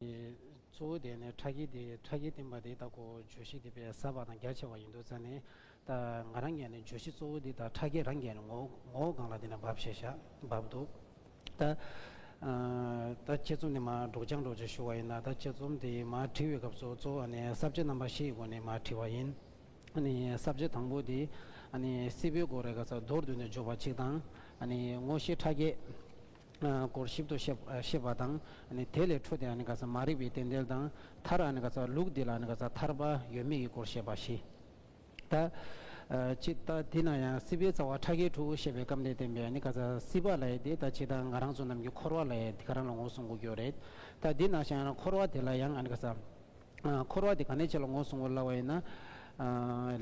གཙོ་བོ་དེ་ནི་ཁྲག་གིས་དེ་ཁྲག་གིས་བསྟིམས་པ་དེ་དག་གོ་བརྗོད་གཞི་དེ་པས་ཟབ་པ་དང་རྒྱ་ཆེ་བ་ཡིན་འདུག་ཙཱ་ནི། ད་ང་རང་རྒྱལ་ནི་བརྗོད་གཞི་གཙོ་བོ་འདི་དག་ཁྲག་གིས་རང་རྒྱལ་ནི་ངོ་བོ་གང་ལ་དེ་ནི་བབས་ཞེས་བྱ་བབས་འདུག། ད་ད་དཔྱད་རྩོམ་འདི་མ་སྒྲོགས་སྦྱངས་སྒྲོགས་ཅེས་ཞུ་བ་ཡིན་ན་ད་དཔྱད་རྩོམ་འདི་མ་བྲི་བའི་སྐབས་སུ་གཙོ་བོ་ནི་གསར་བརྗེ་རྣམ་པ་བཞི་ཡི་སྒོ་ནས་མ་བྲིས་པ་ཡིན། གསར་བརྗེ་དང་པོ་དེ་སྲིད་པའི་སྒོ་རེ་ག་ས་མདོར་བསྡུས་ནས་བརྗོད་པ་གཅིག་དང། དངོས་གཞི་ཁྲག་གིས། སྐོར་ཞིབ་ཏུ་ཤེས་པ་དང། དེ་ལས་འཕྲོས་ཏེ་མ་རིག་པའི་རྟེན་འབྲེལ་དང་མཐར་ལུགས་འདི་ལ་ཐར་པ་ཡོད་མེད་ཀྱི་སྐོར་ཤེས་པ་བཞི། ད། ཇི་ལྟ་དེ་ན་ཡང་སྲིད་པའི་རྩ་བ་ཕྲ་རྒྱས་དྲུག་ཞེས་པའི་སྐབས་འདིར་བསྟན་པའི་སྲིད་པ་ལ་ཡི་དེ་ད་ཇི་ལྟར་ང་རང་ཚོ་རྣམས་ཀྱི་འཁོར་བ་ལ་ཡི་དེ་ག་རང་ལ་ངོ་སྲུང་དགོས་ཀྱི་རེད། ད་འདི་ན་ཞིང་ཡང་འཁོར་བ་དེ་ལ་ཡང། འཁོར་བ་དེ་ག་ནས་བྱས་ལ་ངོ་བསྲུང་བར་སླ་བ་ཡིན་ན།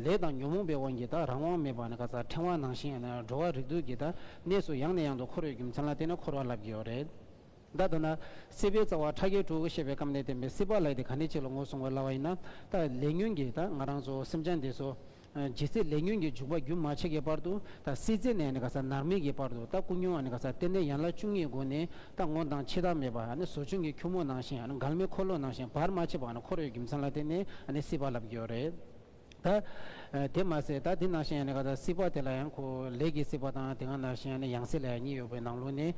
ལས་དང་ཉོན་མོངས་པའི་དབང་གིས་དག་རང་དབང་མེད་པ་ནི་ག་ཙར་ཕྲེང་བ་ནང་བཞིན་ཡང་ན་འགྲོ་བ་རིགས་དྲུག་གི་དག་གནས་སུ་ཡང་ནས་ཡང་དུ་འཁོར་ཡོད་རྒྱུ་མཚན་ལ་བརྟེན་ནས་འཁོར་བ་ལབ་ཀྱི་ཡོད་རེད་ད། འདོད་ན། སྲིད་པའི་རྩ་བ་ཕྲ་རྒྱས་དྲུག་ཤེས་པའི་སྐབས་ནས་བསྟན་པའི་སྲིད་པ་ལས་དེ་ག་ནས་བྱས་ལ་ངོ་བསྲུང་བར་སླ་བ་ཡིན་ན། ལས་ཉོན་གྱིས་དག་ང་རང་ཚོ་སེམས་ཅན་འདས་སོ། ཇི་སྲིད་ལས་ཉོན་གྱི་འཇུག་པ་རྒྱུན་མ་ཆད་ཀྱི་བར་དུ་ད་སྲིད་རྩེ་ནས་ག་ས་ནར་མེད་ཀྱི་བར་དུ་ད་སྐུ་མྱོང་བ་ག་ས་སྟེ་ནད་ཡན་ལག་བཅུ་གཉིས་སྒོ་ནས་ད་ངོ་དང་འཆི་བདག་མེད་པ་ཟོ་ཆུན་གྱི་ཁྱུད་མོ་ནང་བཞིན་མགལ་མེ་འཁོར་ལོ་ནང་བཞིན་བར་མ་ཆད་པ་འཁོར་བའི་རྒྱུ་མཚན་ལ་བརྟེན་ནས་སྲིད་པ་ལབ་ཀྱི་ཡོད་རེད། ད་དེ་མ་ཟད་ད་དེ་ནང་བཞིན་ག་ས་སྲིད་པ་དེ་ལ་ཡང་ཁོ་ལས་ཀྱི་སྲིད་པ་དང་དེ་ག་ནང་བཞིན་ཡང་སྲིད་ལ་ཡང་གཉིས་ཡོད་པའི་ནང་ལུགས་ནས་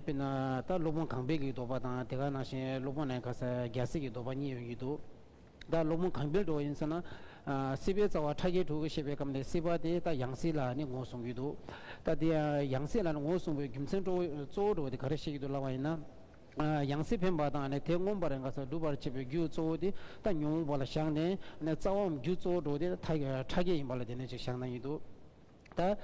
དཔེར་ན་ད་སློབ་དཔོན་གངས་སྦས་ཀྱི་ལྡོག་པ་དང་དེ་ག་ནང་བཞིན་སློབ་དཔོན་ནས་ག་ས་རྒྱལ་སྲིད་ཀྱི་ལྡོག་པ་གཉིས་ཡོང་གི་འདུག། ད་སློང་མོ་གང་འཕེལ་འགྲོ་བ་ཡིན་ཟེར་ན། སྲིད་པའི་རྩ་བ་ཕྲ་རྒྱས་དྲུག་ཞེས་པའི་སྐབས་ནས་སྲིད་པ་དེ་ད་ཡང་སྲིད་ལ་ནི་ངོ་བཟུང་གི་འདུག་ད་དེ་ཡང་སྲིད་ལ་ནི་ངོ་བཟུང་བའི་རྒྱུ་མཚན་གཙོ་བོ་འགྲོ་བ་དེ་ག་རེ་བཤད་ཀྱི་འདུག་ལབ་པ་ཡིན་ན། ཡང་སྲིད་འཕེན་པ་དང་ནི་དེ་མངོན་པར་འགགས་སར་སྒྲུབ་པར་བྱེད་པའི་རྒྱུ་གཙོ་བོ་དེ་ད་ཉོན་མོངས་པ་ལ་བཞག་ནས། རྩ་བའམ་རྒྱུ་གཙོ་བོ་འགྲོ་བ་དེ་ཕྲ་རྒྱས་ཡིན་པ་ལ་དེ་ནས་ཅིག་བཞག་ན་ཡིན་འདུག། ད།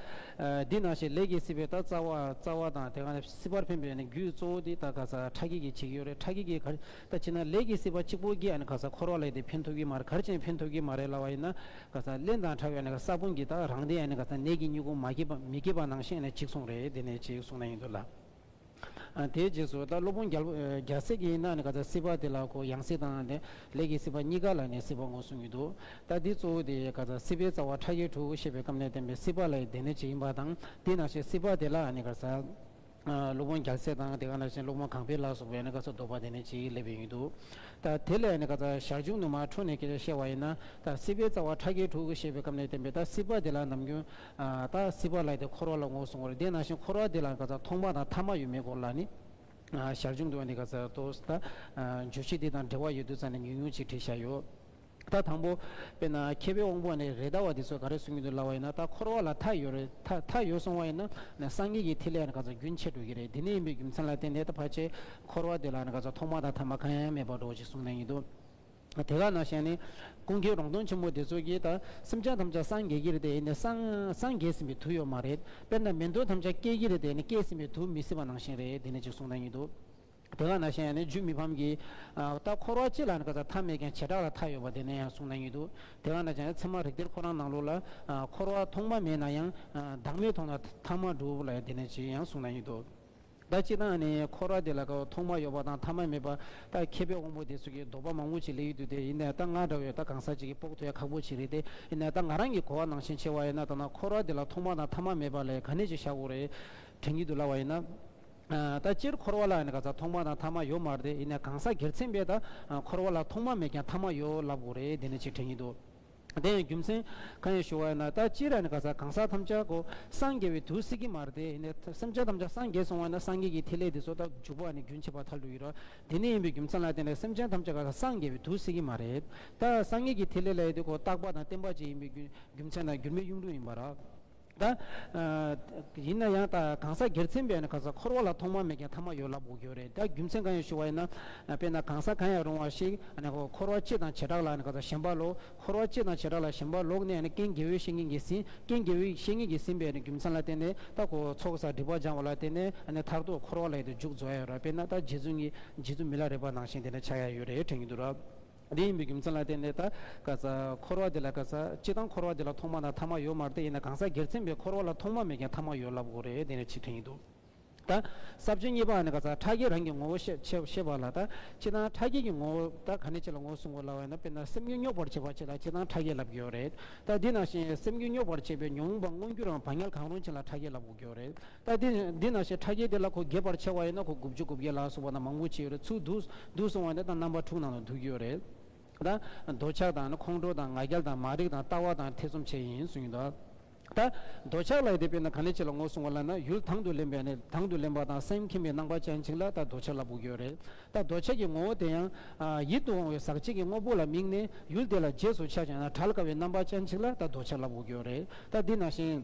འདི་ནང་བཞིན་ལས་ཀྱི་སྲིད་པའི་ད་རྩ་བ། རྩ་བ་དང་དེ་གང་སྲིད་པར་འཕེན་པའི་ནི་རྒྱུའི་གཙོ་བོ་འདི་ད་ག་ས་ཁྲག་གིས་ཀྱི་བྱིག་ཡོད་རེད་ཁྲག་གིས་ཀྱི་གར། ད་ཅི་ན་ལས་ཀྱི་སྲིད་པ་གཅིག་པོ་ཀྱིས་ནི་ག་ས་འཁོར་བ་ལས་དེ་འཕེན་ཐུབ་ཀྱི་མ་རེད་གར་ཅན་འཕེན་ཐུབ་ཀྱི་མ་རེད་ལ་བ་ཡིན་ན། ག་ས་བརླན་དང་ཕྲ་བའི་ནི་ག་ས་ཀུན་གྱི་ད་རང་དེ་ཡང་ནི་ག་ས་ནད་ཀྱི་སྨྱུ་གུ་མ་སྐྱེས་པ་མི་སྐྱེས་པ་ནང་བཞིན་ནི་གཅིག་གསུངས་རེད་དེ་ནས་གཅིག་གསུངས་ན་ཡིན་འདོད་ལ། དེའི་རྗེས་སུ་ད་སློབ་དཔོན་རྒྱལ་པོ་རྒྱལ་སྲས་ཀྱི་ཡིན་ན་ནི་ག་ཚད་སྲིད་པ་དེ་ལ་གོ་ཡང་སྲིད་དང་ནི་ལས་ཀྱི་སྲིད་པ་གཉིས་ཀ་ལ་ནི་སྲིད་པ་ངོ་གསུམ་ཡོད་དོ། ད་འདི་གཙོ་བོ་དེ་ག་ཚད་སྲིད་པའི་རྩ་བ་ཕྲ་རྒྱས་དྲུག་བཤད་པའི་སྐབས་ནས་བསྟན་པའི་སྲིད་པ་ལ་ཡི་དེ་ནི་ཇི་ཡིན་པ་དང་དེས་ན་ཞེས་སྲིད་པ་དེ་ལ་ནི་ག་ཚད་སློབ་དཔོན་རྒྱལ་སྲས་དང་དེ་ག་ནས་བཞིན་སློབ་དཔོན་གང་འཕེལ་ལ་སོགས་པས་ནི་ག་ཚད་འདོགས་པ་དེ་ནི་ཅིའི་སླད་པས་ཡིན་དུ། ད་དེ་ལས་ནི་ག་ཚད་ཞར་བྱུང་དུ་མ་འཕྲོས་ནས་ཀྱི་བཤད་བ་ཡིན་ན་ད་སྲིད་པའི་རྩ་བ་ཕྲ་རྒྱས་དྲུག་བཤད་པའི་སྐབས་ནས་བསྟན་པའི་ད་སྲིད་པ་དེ་ལ་ནམ་རྒྱུན་ད་སྲིད་པར་ལགས་ཏེ་འཁོར་བ་ལ་ངོ་བསྲུང་བར་བདེན་ན་ཞིང་འཁོར་བ་འདི་ལ་ག་ཚ་ཐོག་མ་དང་ཐ་མ་ཡོད་མེད་སྐོར་ལ་ནི། ཞར་བྱུང་དུ་བ་ནི་ག་ཚ་དོ་ཟ། འཇུ་བྱེད་འདི་དང་འབྲེལ་བ་ཡོད་དུ་ཚ་ནས་ཉུང་ཉུང་ཅིག་བྲིས་བཞག་ཡོད། ད་དང་པོ། དཔེར་ན་མཁས་པའི་དབང་པོ་ནི་རེ་ད་བ་འདི་ཚོ་ག་རེ་གསུང་གིན་འདུག་ལབ་བ་ཡིན་ན་ད་འཁོར་བ་ལ་མཐའ་ཡོད་རེད་ད་མཐའ་ཡོད་གསུང་བ་ཡིན་ན་སངས་རྒྱས་ཀྱི་ཐིག་ལེ་ཡང་ནི་ག་ཚ་རྒྱུན་ཆད་འགྲོ་གི་རེད་དེ་ནས་ཡིན་པའི་རྒྱུ་མཚན་ལ་བརྟེན་ནས་ད་ཕར་ཆེར་འཁོར་བ་འདི་ལ་ནི་ག་ཚ་ཐོག་མ་དང་ཐ་མ་གང་ཡང་མེད་པར་འགྲོ་ཅིག་གསུང་ན་ཡིན་དུ། དེ་ག་ན་བཞེངས་ནས། ཀུན་མཁྱེན་རོང་སྟོན་ཆེན་མོ་དེ་ཚོ་གིས་དང་སེམས་ཅན་ཐམས་ཅད་སངས་རྒྱས་ཀྱི་རེད་དེ་ནི་སངས་རྒྱས་ཟིན་པའི་དུས་ཡོད་མ་རེད། དཔེར་ན་མི་འདོད་ཐམས་ཅད་སྐྱེས་ཀྱི་རེད་དེ་ནི་སྐྱེས་ཟིན་པའི་དུས་མི་སྲིད་པ་ནང་བཞིན་རེད་དེ་ནི་ཅིག་གསུངས་ན་ཡིན་འདུག་དེ་ག་ན་བཞེངས་ནས་རྒྱུད་མི་ཕམ་གྱིས། ལྟ་འཁོར་བ་སྤྱི་ལ་ནི་ག་ས་མཐའ་མེད་ཀྱང་བྱེ་བྲག་ལ་མཐའ་ཡོད་པ་དེ་ནི་ཡང་གསུངས་ན་ཡིན་འདུག་དེ་ག་ན་བཞེངས་ནས་ཚད་མ་རིག་གཏེར་ཁོ་རང་ནང་ལུགས་ལ། འཁོར་བ་ཐོག་མ་མེད་ན་ཡང། བདག་མེད་ཐོག་ན་མཐའ་མ་གྲུབ་ལ་དེ་ནི་ཅིག་ཡང་གསུངས་ན་ཡིན་འདུག། ཟླ་གཅིག་དང་ནི་འཁོར་བ་དེ་ལ་ཀ་བ་ཐོག་མ་ཡོད་པ་དང་ཐ་མ་མེད་པ། ད་མཁས་པའི་དབང་པོ་དེ་ཚོ་གིས་ལྡོག་པ་མང་བོ་ཅིག་ལས་ཡུལ་དུ་དེ་ཡིན་ནས་ད་ང་འདྲ་བའི་ད་གང་ཟག་ཅིག་གིས་དཔོག་ཐུ་ཡ་ཁག་པོ་ཅིག་རེད་དེ་ཡིན་ནས་ད་ང་རང་གིས་གོ་བ་ནང་བཞིན་ཆེ་བ་ཡིན་ན་ད་ན་འཁོར་བ་དེ་ལ་ཐོག་མ་དང་ཐ་མ་མེད་པ་ལས་ག་ནས་ཅིག་བཞག་གོ་རེ་དྲན་གྱི་འདུག་ལ་བ་ཡིན་ན། ད་སྤྱིར་འཁོར་བ་ལ་ནི་ག་ཟག་ཐོག་མ་དང་ཐ་མ་ཡོད་མ་རེད་དེ་ཡིན་ནས་གང་ཟག་སྒེར་ཚན་པས་ད་འཁོར་བ་ལ་ཐོག་མ་མེད་ཀྱང་ཐ་མ་ཡོད་ལབ་གོ་རེ་དེ་ནས་ཅིག་དྲན་གྱི་འདུག། དེ་ཡང་རྒྱུ་མཚན་གང་ཡང་ཞུ་བ་ཡོད་ན་ད་ཅི་ར་ནི་ག་ས་གང་ཟག་ཐམས་ཅད་གོ་སངས་རྒྱས་པའི་དུས་སྲིད་ཀྱི་མར་དེ་ནི་སེམས་ཅན་ཐམས་ཅད་སངས་རྒྱས་སོང་བ་ན་སངས་རྒྱས་ཀྱི་ཐིག་ལེ་དེ་སོགས་དག་འཇུག་པ་ནི་རྒྱུན་ཆད་པ་ཐལ་དུ་ཡོད་རོ། དེ་ནི་ཡིན་པའི་རྒྱུ་མཚན་ལ་བརྟེན་ནས་སེམས་ཅན་ཐམས་ཅད་ག་ས་སངས་རྒྱས་པའི་དུས་སྲིད་ཀྱི་མ་རེད། ད་སངས་རྒྱས་ཀྱི་ཐིག་ལེ་ལ་ཡོད་དེ་གོ་རྟག་པ་དང་བརྟན་པ་ཅིག་ཡིན་པའི་རྒྱུ་རྒྱུ་མཚན་དང་འགྱུར་མེད་གཡུང་དྲུང་ཡིན་པ་ར། ད། ཡིན་ན་ཡང་ད་གང་ཟག་སྒེར་ཚན་པས་ན་གང་ཟག་འཁོར་བ་ལ་ཐོག་མ་མེད་ཀྱང་ཐ་མ་ཡོད་ལབ་དགོས་ཀྱི་ཡོད་རེད་ད་རྒྱུ་མཚན་གང་ཡང་ཞུ་བ་ཡིན་ན། དཔེར་ན་གང་ཟག་གང་ཡང་རུང་བ་ཞིག་ནས་འཁོར་བ་སྤྱི་དང་བྱེ་བྲག་ལ་ནས་གང་ཟག་གཞན་པ་ལོག་འཁོར་བ་སྤྱི་དང་བྱེ་བྲག་ལ་གཞན་པ་ལོག་ནས་ནས་རྐྱེན་དགེ་བའི་བཤེས་གཉེན་གྱིས་ཟིན་རྐྱེན་དགེ་བའི་བཤེས་གཉེན་གྱིས་ཟིན་པའི་རྒྱུ་མཚན་ལ་བརྟེན་ནས་ད་གོ་ཚོགས་སར་སྒྲིབ་པ་སྦྱང་བ་ལ་བརྟེན་ནས་ནས་མཐར་ཐུག་འཁོར་བ་ལ་ཡོད་དོ་འཇུག་རྫོགས་ཡ་ཡོད་ར་དཔེར་ན་ད་རྗེ་བཙུན་གྱིས་རྗེ་བཙུན་མི་ལ་རས་པ་ནང་བཞིན་དེ་ནས་ཆགས་ཡ་ཡོད་རེད་དྲན་གྱི་འདུག་ར། འདི་ཡིན་པའི་རྒྱུ་མཚན་ལ་བརྟེན་ནས་ད་ག་ས་འཁོར་བ་འདི་ལ་ག་ས་སྤྱི་དང་འཁོར་བ་འདི་ལ་ཐོག་མ་དང་ཐ་མ་ཡོད་མ་རེད་ཡིན་ན་གང་ཟག་སྒེར་མཚན་པའི་འཁོར་བ་ལ་ཐོག་མ་མེད་ཀྱང་ཐ་མ་ཡོད་ལབ་དགོས་རེད་དེ་ནི་ཆིག་ཐུན་ཡིན་འདུག་ད་ས་བཅུ་གཉིས་པའང་ནི་ག་ས་ཕྲ་རྒྱས་རང་གི་ངོ་བོ་ཤེས་ཤེས་ཤེས་པ་ལ་ད་སྤྱི་དང་ཕྲ་རྒྱས་ཀྱི་ངོ་བོ་ད་ག་ནས་ཁྱེད་ལ་ངོ་བོ་གཟུང་དགོས་ལབ་བ་ཡིན་ན་དཔེར་ན་སེམས་རྒྱུད་རྙོག་པར་བྱེད་པ་ཁྱེད་ལ་སྤྱི་དང་ཕྲ་རྒྱས་ལབ་དགོས་ཡོད་རེད་ད་འདི་ནང་བཞིན་སེམས་རྒྱུད་རྙོག་པར་བྱེད་པའི་མྱོང་བ་མངོན་གྱུར་རང་བག་ཉལ་གང་རུང་ཁྱེད་ལ་ཕྲ་རྒྱས་ལབ་དགོས་ཡོད་རེད། ད་ལྟའི་འདི་ན་ཞེས་ཕྲ་རྒྱས་དེ་ལ་གོ་བརྒྱད་བར་ཕྱེ་བ་ཡིན་ན་གོ་དགུ་བཅུ་དགུ་བརྒྱད་ལ་སོགས་པ་ན་མང་པོ་ཕྱེ་ཡོད་རེད་ཚུར་བསྡུ་བསྡུ་སོང་བ་དེ་དང་རྣམ་པ་དྲུག་ནང་དུ་འདུ་རྒྱུ་ཡོད་རེད་ད། འདོད་ཆགས་དང་ཁོང་ཁྲོ་དང་ང་རྒྱལ་དང་མ་རིག་དང་ལྟ་བ་དང་ཐེ་ཚོམ་བཅས་ཡིན་གསུངས་ཡོད་དོ། ད། འདོད་ཆགས་ལ་ཡི་དེ་དཔེར་ན་ག་ནས་ཕྱེ་ལ་ངོ་སྲུང་བ་ལ་ན་ཡུལ་དང་དུ་ལེན་པས་ནི་དང་དུ་ལེན་པ་དང་སེམས་ཁེངས་པའི་སྣང་བ་ཅན་ཅིག་ལ་ད་འདོད་ཆགས་ལ་འབུག་ཡོད་རེད་ད་འདོད་ཆགས་ཀྱི་ངོ་བོ་དེ་ཡང། ཡིད་དུ་འོང་བའི་ཟག་བཅས་ཀྱི་དངོས་པོ་ལ་དམིགས་ནས་ཡུལ་དེ་ལ་རྗེས་སུ་ཆགས་ཅིང་ན་བྲལ་དཀའ་བའི་རྣམ་པ་ཅན་ཅིག་ལ་ད་འདོད་ཆགས་ལ་འབུག་ཡོད་རེད་ད་འདི་ན་ཞེས།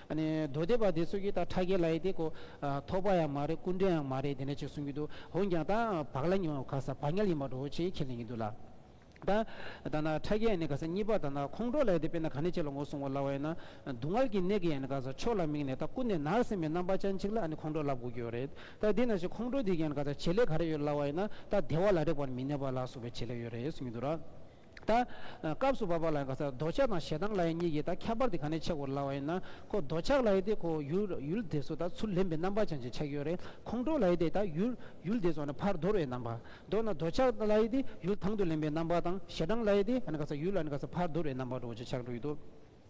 རྡོ་རྡེག་པ་དེ་ཚོ་གིས་ད་ཁྲ་རྒྱལ་ལ་ཡི་དེ་ཁོ་ཐོག་པ་ཡང་མ་རེད་སྐུ་མགྲོན་ཡང་མ་རེད་དེ་འདྲ་ཅིག་གསུང་གི་འདུག་འོན་ཀྱང་ད་བག་ལ་ཉོ་ག་ས་བག་ཉལ་ཡིན་པ་འགྲོ་བོ་ཆེ་ཁྱེད་ལེན་གི་འདུག་ལ། ད་ད་ན་ཁྲ་རྒྱལ་ཡང་ནི་ག་ས་གཉིས་པ་ད་ན་ཁོང་ཁྲོ་ལ་ཡི་དེ་དཔེར་ན་ག་ནས་ཁྱེད་ལ་ངོ་སྲུང་བ་ལ་བ་ཡིན་ན་སྡུག་བསྔལ་གྱི་ནད་ཀྱིས་ཡང་ནི་ག་ས་ཕྱོགས་ལ་དམིགས་ནས་ད་ཀུན་ནས་ནར་སིན་པའི་རྣམ་པ་ཅན་ཅིག་ལ་ཨ་ནི་ཁོང་ཁྲོ་ལབ་དགོས་ཀྱི་ཡོད་རེད་ད་དེས་ན་ཞེས་ཁོང་ཁྲོ་དེ་གིས་ཡང་ནི་ག་ས་བྱེད་ལས་ག་རེ་ཡོད་ལ་བ་ཡིན་ན་ད་བདེ་བ་ལ་རེག་པར་མི་གནས་པ་ལ་སོགས་པའི་བྱེད་ལས་ཡོད་རེད་གསུང་གི་འདུག་ལ། ད། སྐབས་སུ་བབ་པ་ལ་ཡང་ག་ཚད་རྡོ་ཆག་དང་ཞེ་སྡང་ལ་ཡི་གཉིས་ཀྱིས་ད་ཁྱད་པར་དེ་ག་ནས་ཆགས་དགོས་ལ་བ་ཡིན་ན། ཁོ་རྡོ་ཆག་ལ་ཡི་དེ་ཁོ་ཡུལ་དེ་སུ་ད་ཚུར་ལེན་པའི་རྣམ་པ་ཅན་གྱི་ཆགས་ཡོད་རེད་ཁོང་ཁྲོ་ལ་ཡི་དེ་ད་ཡུལ་དེ་སོགས་ནི་ཕར་དོར་བའི་རྣམ་པ། མདོར་ན་རྡོ་ཆག་ལ་ཡི་དེ་ཡུལ་དང་དུ་ལེན་པའི་རྣམ་པ་དང་ཞེ་སྡང་ལ་ཡི་དེ་ག་ཚད་ཡུལ་ལ་ནི་ག་ཚད་ཕར་དོར་བའི་རྣམ་པ་འགྲོ་བ་ཅི་ཆགས་འགྲོ་ཡི་དོ།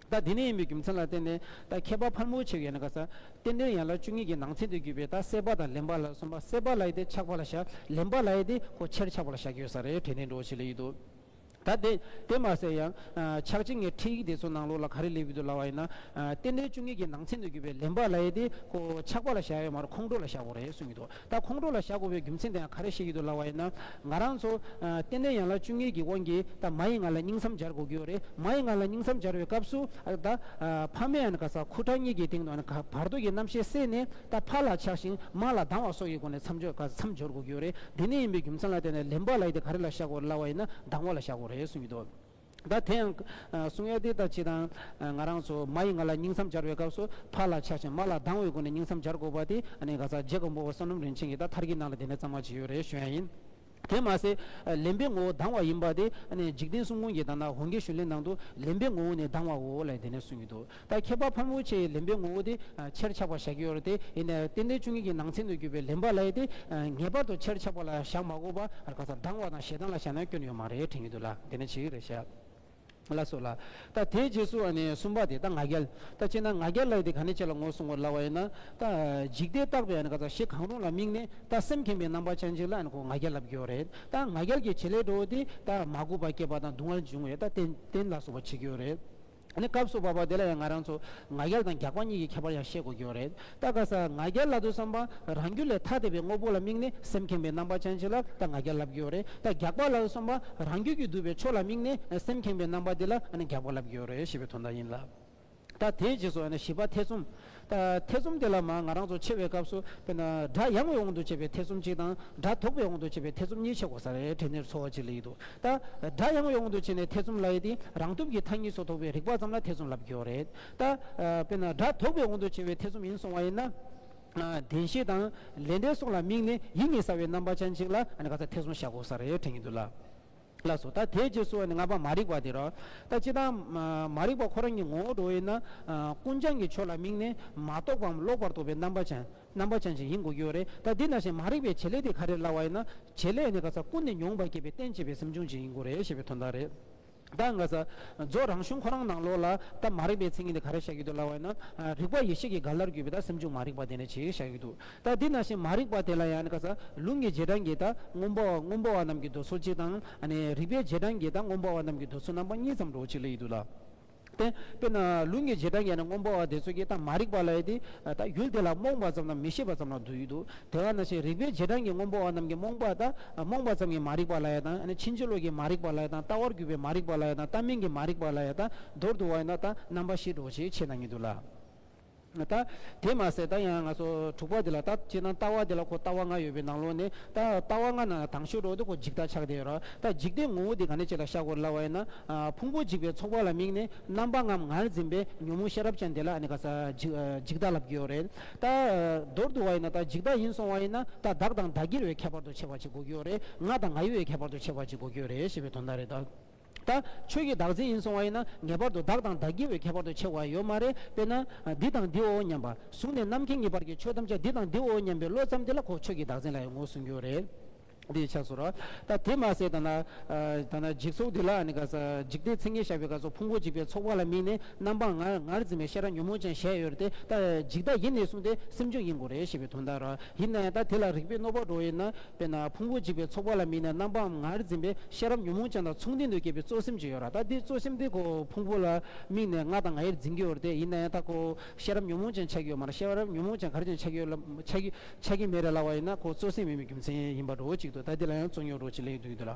ད་དེ་ནས་ཡིན་པའི་རྒྱུ་མཚན་ལ་བརྟེན་ནས་ད་ཁྱད་པར་ཕར་མོ་ཆེ་བའི་ཡན་ལག་གསལ། རྟེན་འབྲེལ་ཡན་ལག་བཅུ་གཉིས་ཀྱི་ནང་ཚན་དུ་གྱུར་པའི་ད་གསལ་བ་དང་ལེན་པ་ལ་གསུམ་པ་གསལ་བ་ལ་ཡི་དེ་ཆགས་པ་ལ་བཞག་ལེན་པ་ལ་ཡི་དེ་ཁོ་ཕྱིར་ཆགས་པ་ལ་བཞག་གི་ཡོད་ས་རེད་དྲན་ནས་འགྲོ་བྱེད་ལེ་ཡིད་དོ། ད་དེ་དེ་མ་གསལ་ཡང། ཕྱག་ཆེན་ངའི་ཁྲིད་ཡིག་དེ་ཚོ་ནང་ལོགས་ལ་ག་རེ་ལེགས་བུད་དུ་ལ་བ་ཡིན་ན། རྟེན་འབྲེལ་བཅུ་གཉིས་ཀྱི་ནང་ཚན་དུ་གྱུར་པའི་ལེན་པ་ལ་ཡི་དེ་ཁོ་ཆགས་པ་ལ་བཞག་ཡོད་མ་རེད་ཁོང་ཁྲོ་ལ་བཞག་གོ་རེད་གསུངས་གི་འདུག་ད་ཁོང་ཁྲོ་ལ་བཞག་དགོས་པའི་རྒྱུ་མཚན་དེའང་ག་རེ་ཤེས་ཀྱི་འདུག་ལབ་བ་ཡིན་ན། ང་རང་ཚོ། ཏན་ཏན་ཡང་ལ་བཅུ་གཉིས་ཀྱི་དབང་གིས་ད་མ་ཡི་ང་ལ་སྙིང་བསམ་སྦྱར་དགོས་ཀྱི་ཡོད་རེད། མ་ཡི་ང་ལ་སྙིང་བསམ་སྦྱར་བའི་སྐབས་སུ། ད། ཕ་མས་ཨན་ག་ས་ཁུ་ཁྲག་གཉིས་ཀྱི་སྟེང་དུ་ཨན་ག་བར་དོ་ཀྱི་རྣམ་ཤེས་བསྲེས་ནས་ད་ཕ་ལ་ཆགས་ཤིང་མ་ལ་སྡང་བ་སོགས་ཀྱི་སྒོ་ནས་མཚམས་སྦྱོར་ག་ས་མཚམས་སྦྱོར་དགོས་ཀྱི་ཡོད་རེད། དེ་ནས་ཡིན་པའི་རྒྱུ་མཚན་ལ་བརྟེན་ནས་ལེན་པ་ལ་ཡིད་དེ་ག་རེ་ལ་བཞག་དགོས་རེད་ལབ་བ་ཡིན་ན་སྡང་བ་ལ་བཞག་དགོས་རེད་གསུངས་ཀྱི་འདུག། ད་དེ་ཡང། གསུང་ཨེ་ཏེ་ད་ཅི་དང། ང་རང་ཚོ་མ་ཡིས་ང་ལ་སྙིང་གསང་སྦྱར་བའི་སྐབས་སུ་ཕར་ལ་ཆགས་ཤིང་མར་ལ་སྡང་བའི་སྒོ་ནས་སྙིང་གསང་སྦྱར་དགོས་པ་དེ་ནི་ག་ཚག་རྗེ་འགོང་པོ་བ་བསོད་ནམས་རིན་ཆེན་གྱིས་ད་ཐར་གྱི་ནང་ལ་དེ་འདྲ་གཙང་མ་ཇི་ཡོད་རེ་ཞུ་ཡ་ཡིན། དེ་མ་ཟད། ལེན་པའི་ངོ་བོ་སྡང་བ་ཡིན་པ་དེ་ནི་འཇིག་རྟེན་གསུམ་ཀུན་གྱི་དང་ན་བོང་གའི་ཞུ་ལེན་ནང་དུ་ལེན་པའི་ངོ་བོ་ནི་སྡང་བའོ་ལ་ཡི་དེ་ནས་གསུངས་ཡོད་དོ། ད་ཁྱད་པར་ཕར་མོའི་ཆེ་ཡི་ལེན་པའི་ངོ་བོ་དེ་ཕྱིར་ཆགས་པར་བཞག་གི་ཡོད་རེད་དེ། ཡིན་ནའི་རྟེན་འབྲེལ་བཅུ་གཉིས་ཀྱི་ནང་ཚན་དུ་གྱུར་པའི་ལེན་པ་ལ་ཡིན་ཏེ། ངེས་པར་དུ་ཕྱིར་ཆགས་པ་ལ་བཞག་མ་གོ་བར་ག་ཚ་སྡང་བ་དང་ཞེ་སྡང་ལ་བཞག་ན་སྐྱོན་ཡོད་མ་རེད་དྲན་གྱི་འདུག་ལ་དེ་ནི་ཇི་ཡིན་རེད་ཤ་ལ་སོ་ལ། ད་དེའི་རྗེས་སུ་ནི་གསུམ་པ་དེ་ད་ང་རྒྱལ། ད་སྤྱིར་ན་ང་རྒྱལ་ལ་ཡིན་ཏེ་གང་ནས་ཅི་ལ་ངོ་བསྲུང་བར་སླ་བ་ཡིན་ན། ད་འཇིག་ལྟས་བརྟགས་པའི་ག་ཚ་གཞི་གང་རུང་ལ་དམིགས་ནས་ད་སེམས་ཁེངས་པའི་རྣམ་པ་ཅན་ཅིག་ལ་ཁོ་ང་རྒྱལ་ལབ་ཀྱི་ཡོད་རེད། ད་ང་རྒྱལ་གྱི་བྱེད་ལས་འགྲོ་བ་དེ་ད་མ་གོ་བར་སྐྱེས་པ་དང་སྡུག་བསྔལ་འབྱུང་བས་ད་རྟེན་རྟེན་ལ་སོགས་པ་བྱེད་ཀྱི་ཡོད་རེད། ཨ་ནི་སྐབས་སུ་བབ་པ་དེ་ལ་ཡང་ང་རང་ཚོ་ང་རྒྱལ་དང་རྒྱགས་པ་གཉིས་ཀྱི་ཁྱད་པར་ཡང་ཤེས་དགོས་ཀྱི་ཡོད་རེད་ད་ག་ས་ང་རྒྱལ་བླ་དོའི་བསམ་པ་རང་རྒྱུད་ལས་ཐ་དད་པའི་དངོས་པོ་ལ་དམིགས་ནས་སེམས་ཁེངས་པའི་རྣམ་པ་ཅན་ཞིག་ལ་ད་ང་རྒྱལ་ལབ་ཀྱི་ཡོད་རེད་ད་རྒྱགས་པ་བླའི་བསམ་པ་རང་རྒྱུད་ཀྱི་བསྡུས་པའི་ཕྱོགས་ལ་དམིགས་ནས་སེམས་ཁེངས་པའི་རྣམ་པ་དེ་ལ་ཨ་ནི་རྒྱགས་པ་ལབ་ཀྱི་ཡོད་རེད་ཞེས་པའི་དོན་དག་ཡིན་ལ། ད་དེའི་རྗེས་སུ་ཨ་ནི་བྱིས་པ་ཐེ་ཚོམ་ཐེ་ཚོམ་དེ་ལ་མ་ང་རང་ཚོ་ཆེ་བའི་སྐབས་སུ་དཔེར་ན་སྒྲ་ཡང་བའི་དབང་དུ་བྱས་པའི་ཐེ་ཚོམ་གཅིག་དང་སྒྲ་དོག་པའི་དབང་དུ་བྱས་པའི་ཐེ་ཚོམ་གཉིས་ཆེ་གོ་ས་རེད་དྲན་ནས་འཚོལ་བ་གཅིག་ལ་ཡིད་འདུག་ད། སྒྲ་ཡང་བའི་དབང་དུ་བྱས་ནས་ཐེ་ཚོམ་ལ་ཡིད་དེ་རང་སྟོབས་ཀྱིས་མཐའ་གཉིས་སོ་དོག་པའི་རིག་པ་ཙམ་ལ་ཐེ་ཚོམ་ལབ་ཀྱོ་རེད་ད། དཔེར་ན་སྒྲ་དོག་པའི་དབང་དུ་བྱས་པའི་ཐེ་ཚོམ་ཡིན་སོང་བ་ཡིན་ན། བདེན་བཞི་དང་ལས་འབྲས་སོགས་ལ་དམིགས་ནས་ཡིད་གཉིས་ཟ་བའི་རྣམ་པ་ཅན་གཅིག་ལ་ག་ཚད་ཐེ་ཚོམ་བཞག་གོ་ས་རེད་དྲན་གྱི་འདུག་ལ། ལགས་སོ། ད་དེའི་རྗེས་སུ་ནི་ང་པ་མ་རིག་པ་དེ་རོ། ད་ཅི་དང། མ་རིག་པ་ཁོ་རང་གི་ངོ་བོ་འགྲོ་བས་ན། ཀུན་བྱང་གི་ཆོས་ལ་དམིགས་ནས་མ་རྟོགས་པའམ་ལོག་པར་རྟོག་པའི་རྣམ་པ་ཅན། རྣམ་པ་ཅན་ཞིག་ཡིན་དགོས་ཀྱི་ཡོད་རེད། ད་འདི་ན་བཞིན་མ་རིག་པའི་བྱེད་ལས་དེ་ག་རེ་ལ་བ་ཡིན་ན། བྱེད་ལས་ནི་ག་ས་ཀུན་ནས་མྱོང་བར་སྐྱེས་པའི་རྟེན་བྱེད་པའི་སེམས་བྱུང་ཅན་ཡིན་དགོས་རེད་ཞེས་པའི་དོན་དག་རེད། ད་ག་ས། རྫོགས་རང་གཞུང་ཁོ་རང་ནང་ལོགས་ལ། ད་མ་རིག་པའི་མཚན་ཉིད་དེ་ག་རེ་བཞག་ཡོད་འདུག་ལ་བ་ཡིན་ན། རིག་པ་ཡེ་ཤེས་ཀྱི་ག་ལར་གྱུར་པའི་ད་སེམས་བྱུང་མ་རིག་པ་དེ་ནི་ཇི་ཞིག་བཞག་ཡོད་འདུག་ད་དེ་ན་ཞིང་མ་རིག་པ་དེ་ལ་ཡང་ལུང་གི་རྗེས་འབྲང་གིས་ད་སྔོན་པོ་སྔོན་པོ་བ་རྣམས་ཀྱི་འདོད་ཚུལ་གཅིག་དང། རིག་པའི་རྗེས་འབྲང་གིས་ད་སྔོན་པོ་བ་རྣམས་ཀྱི་འདོད་ཚུལ་རྣམ་པ་གཉིས་ཙམ་འགྲོ་བ་གཅིག་ལ་ཡིད་དུ་ལ། དེ་དཔེར་ན་ལུང་གི་རྗེས་འབྲང་གིས་ན་སྔོན་པོ་བ་དེ་ཚོད་ཀྱིས་ད་མ་རིག་པ་ལ་ཡིད་དེ་ད་ཡུལ་དེ་ལ་རྨོངས་པ་ཙམ་དང་མི་ཤེས་པ་ཙམ་ལ་འདོད་ཡིད་དུ་དེ་བ་ན་ཞིང་རིག་པའི་རྗེས་འབྲང་གིས་སྔོན་པོ་བ་རྣམས་ཀྱི་རྨོངས་པ་ད་རྨོངས་པ་ཙམ་གྱིས་མ་རིག་པ་ལ་ཡིད་དང་ཕྱིན་ཅི་ལོག་གིས་མ་རིག་པ་ལ་ཡིད་དང་ལྟ་བར་གྱུར་པའི་མ་རིག་པ་ལ་ཡིད་དང་ལྟ་མིན་གྱི་མ་རིག་པ་ལ་ཡིད་དང་མདོར་བསྡུ་བ་ཡིན་ན་ད་རྣམ་པ་བཞིས་འགྲོ་བ་གཅིག་ཆེད་དང་ཡིད་དུ་ལ། ད་དེ་མ་ཟད་ད་ཡང་ང་ཚོ་དྲུག་པ་དེ་ལ་ད་སྤྱིར་ན་ལྟ་བ་དེ་ལ་ཁོ་ལྟ་བ་ལྔ་ཡོད་པའི་ནང་ལོགས་ནས་ད་ལྟ་བ་ལྔ་ནང་ལ་དང་ཤོས་གྲོགས་དེ་ཁོ་འཇིག་ལྟ་ཆགས་བསྡད་ཡོད་རོགས་ད་འཇིག་ལྟའི་ངོ་བོ་དེ་ག་ནས་ཆེ་ལ་ཤ་གོར་སླ་བ་ཡིན་ན་ཕུང་པོ་འཇིག་པའི་ཚོགས་པ་ལ་དམིགས་ནས་རྣམ་པ་ལྔའམ་ངར་འཛིན་པའི་ཉོན་མོངས་ཤེས་རབ་ཅན་དེ་ལ་ཨ་ནི་ག་ས་འཇིག་ལྟ་ལབ་ཀྱི་ཡོད་རེད་ད་མདོར་བསྡུ་བ་ཡིན་ན་ད་འཇིག་ལྟ་ཡིན་སོང་བ་ཡིན་ན་ད་བདག་དང་བདག་གིར་བའི་ཁྱད་པར་དུ་ཆེ་བ་ཅིག་གོ་གི་ཡོད་རེད་ང་དང་ང་ཡི་བའི་ཁྱད་པར་དུ་ཆེ་བ་ཅིག་གོ་གི་ཡོད་རེད་ཞེས་པའི་དོན་དག་རེད་ད། ད་ཁྱོད་ཀྱིས་བདག་འཛིན་ཡིན་སོང་བ་ཡིན་ན་ངེས་པར་དུ་བདག་དང་བདག་གི་བའི་ཁྱད་པར་དུ་ཆེ་བ་ཡོད་མ་རེད་དཔེར་ན། འདི་དང་འདིའོ་སྙམ་པ། གཟུགས་ནས་རྣམ་མཁྱེན་གཉིས་བར་གྱི་ཆོས་ཐམས་ཅད་འདི་དང་འདིའོ་སྙམ་པའི་བློ་ཙམ་དེ་ལ་ཁོ་ཁྱོད་ཀྱི་བདག་འཛིན་ལ་ཡང་ངོ་སྲུང་རྒྱུ་རེད། འདི་ཆགས་སོ། ད་དེ་མ་ཟད་ད་ན། ད་ན་འཇིག་ཚོགས་འདི་ལ་ནི་ག་ས་འཇིག་རྟེན་ཚིག་ངན་བཤད་པའི་ག་ཚོད་ཕུང་པོ་འཇིག་པའི་ཚོགས་པ་ལ་དམིགས་ནས་རྣམ་སྤངས་ངར་ངར་འཛིན་པའི་ཤེས་རབ་ཉོན་མོངས་ཅན་བཞད་ཡོད་རེད་དེ། ད་འཇིག་ལྟ་ཡིན་ནི་གསུངས་ཏེ་སེམས་བྱུང་ཡིན་དགོས་རེད་ཞེས་པའི་དོན་དང་ར། ཡིན་ན་ཡང་ད་དེ་ལ་རིགས་པས་གནོད་པར་འགྲོ་བ་ཡིན་ན། དཔེར་ན་ཕུང་པོ་འཇིག་པའི་ཚོགས་པ་ལ་དམིགས་ནས་རྣམ་པའམ་ངར་འཛིན་པའི་ཤེས་རབ་ཉོན་མོངས་ཅན་དང་མཚུངས་ལྡན་དུ་སྐྱེས་པའི་གཙོ་སེམས་ཅིག་ཡོད་ར་ད་དེ་གཙོ་སེམས་དེ་ཁོ་ཕུང་པོ་ལ་དམིགས་ནས་ང་དང་ང་ཡིར་འཛིན་གྱི་ཡོད་ར་ཏེ་ཡིན་ན་ཡང་ད་ཁོ་ཤེས་རབ་ཉོན་མོངས་ཅན་ཆགས་ཀྱི་ཡོད་མ་ར་ཤེས་རབ་ཉོན་མོངས་ཅན་གར་ཅན་ཆགས་ཀྱི་ཡོད་ལ་ཆགས་ཀྱི་མེད་ར་ལ་བ་ཡིན་ན་ཁོ་གཙོ་སེམས་མིན་པའི་རྒྱུ་མཚན་ཡིན་པ་འགྲོ་བོ་གཅིག་ཏུ་ད་དེ་ལ་ཡང་གཙོ་ཉོན་རོ་གཅིག་ལས་ཡོད་དུ་ཡོད་དུ་ལ།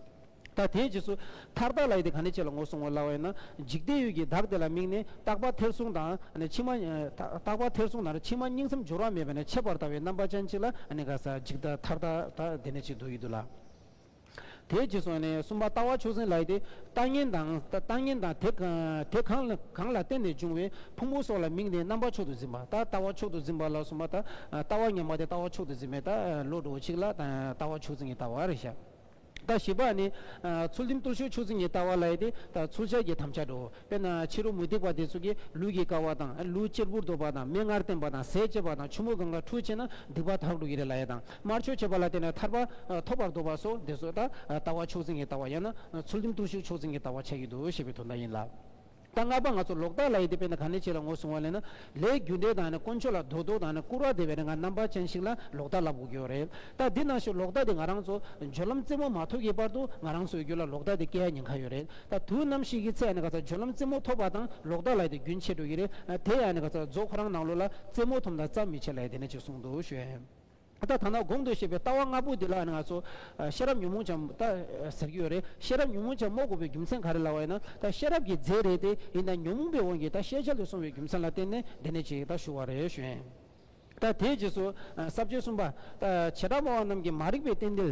ད་དེའི་རྗེས་སུ། མཐར་བདག་ལ་ཡི་དེ་ག་ནས་བྱས་ལ་ངོ་བསྲུང་བ་སླ་བ་ཡིན་ན། འཇིག་རྟེན་ཡུལ་གྱི་བདག་དེ་ལ་དམིགས་ནས་རྟག་པར་ཐེར་ཟུང་དང་ཕྱི་མ། རྟག་པར་ཐེར་ཟུང་དང་ཕྱི་མ་སྙིང་སེམས་སྦྱོར་བ་མེད་པ་ནས་ཆད་པར་ལྟ་བའི་རྣམ་པ་ཅན་གཅིག་ལ་དགའ་ས་ཅིག་ད་མཐར་ད་ལྟ་དེ་ནས་ཅིག་འདུག་ཡི་འདུག་ལ། དེའི་རྗེས་སུ། གསུམ་པ་ལྟ་བ་ཆོས་ཟིན་ལ་ཡི་དེ་ལྟ་ངན་དང། ལྟ་ངན་དང་དེ་གང་ལ་བརྟེན་ནས་འབྱུང་བའི་ཕུང་པོ་སོགས་ལ་དམིགས་ནས་རྣམ་པ་མཆོག་ཏུ་འཛིན་པ་ད་ལྟ་བ་མཆོག་ཏུ་འཛིན་པ་ལ་གསུམ་པ་ད་ལྟ་བ་ཉམས་པ་དེ་ལྟ་བ་མཆོག་ཏུ་འཛིན་པའི་ལྟ་བློ་གྲོགས་ཆིག་ལ་ད་ལྟ་བ་ཆོས་ཟིན་གྱི་ལྟ་བ་རེ་བཞག། ཟླ་བཞི་པ་ནི། ཚུལ་ཁྲིམས་གཏོར་ཆོག་ཆུ་ཚོད་གཉིས་བལྟ་བ་ལ་ཡི་དེ། ཚུལ་འཆལ་གྱི་དམ་བཅའ་འགྲོ། དཔེར་ན་ཕྱི་རོལ་མུ་སྟེགས་པ་དེ་ཚོ་གིས་ལུས་ཀྱི་ཀ་བ་དང། ལུས་གཅེར་བུར་འདོགས་པ་དང་མིག་སྔར་བསྟན་པ་དང་ཟས་བཅད་པ་དང་ཆུ་མོ་གང་ག་འཁྲུ་བྱེད་ན་སྡིག་པ་དག་འགྲོ་གི་རེད་ལ་ཡི་དང། དམར་ཆོས་བྱེད་པ་ལ་བརྟེན་ནས་ཐར་པ་ཐོབ་པར་འདོད་པ་སོགས་འདི་ཚོ་ད་ལྟ་བ་ཆུ་ཚོད་གཉིས་བལྟ་བ་ཡང་ན་ཚུལ་ཁྲིམས་གཏོར་ཤུགས་ཆུ་ཚོད་གཉིས་བལྟ་བ་བྱ་ཡི་འདུག་ཞེས་པའི་དོན་དག་ཡིན་ལ། ད་སྔགས་པ་ང་ཚོ་ལོག་ལྟ་ལ་ཡིད་དེ་བས་ན་ག་ནས་བྱས་ལ་ངོ་བསྲུང་བ་ལས་ན། ལས་རྒྱུ་འབྲས་དང་ནི་དཀོན་མཆོག་ལ་དོ་བདོག་དང་ནི་བཀུར་བ་དེ་བས་ན་ང་རྣམ་པ་ཅན་ཞིག་ལ་ལོག་ལྟ་ལབ་དགོས་ཀྱི་ཡོད་རེད། ད་འདི་ན་ཞུ་ལོག་ལྟ་དེ་ང་རང་ཚོ་སྦྱོར་ལམ་རྩེ་མོ་མ་ཐོབ་ཀྱི་བར་དུ་ང་རང་ཚོའི་རྒྱུད་ལ་ལོག་ལྟ་དེ་སྐྱེ་ཡ་ཉེན་ཁ་ཡོད་རེད། ད་དུས་ནམ་ཞིག་གི་ཚད་ནི་ག་ཚ་སྦྱོར་ལམ་རྩེ་མོ་ཐོབ་པ་དང་ལོག་ལྟ་ལ་ཡིད་དེ་རྒྱུན་ཆད་འགྲོ་གི་རེད། དེ་ཡང་ནི་ག་ཚ་རྫོགས་ཁོ་རང་ནང་ལོག་ལ་རྩེ་མོ་ཐོབ་ན་བརྩམས་མི་ཆད་ལ་ཡིད་དེ་ནི་ཅིག་གསུངས་འདུག་ཞུ། ད་ལྟ་ཐ་ན་སྒོམ་འདོད་ཤེས་པའི་ལྟ་བ་ལྔ་པོ་འདི་ལ་ང་ཚོ་ཤེས་རབ་ཉོན་མོངས་ཆ་མོ་ད་ཟེར་གྱི་ཡོད་རེད། ཤེས་རབ་ཉོན་མོངས་ཆ་མོ་དགོས་པའི་རྒྱུ་མཚན་ག་རེ་ལ་བ་ཡིན་ན་ད་ཤེས་རབ་ཀྱི་རྫས་རེད་དེ་ཡིན་ད་ཉོན་མོངས་པའི་དབང་གིས་ད་ཤེས་བྱ་ལས་སོང་བའི་རྒྱུ་མཚན་ལ་བརྟེན་ནས་འདི་ནས་ཅིག་ད་ཞུ་བ་རེད་བཞིན། ད་དེའི་རྗེས་སུ་ཟབ་ཆོས་གསུམ་པ། ད་བྱེ་བྲག་སྨྲ་བ་རྣམས་ཀྱི་མ་རིག་པའི་རྟེན་འདི།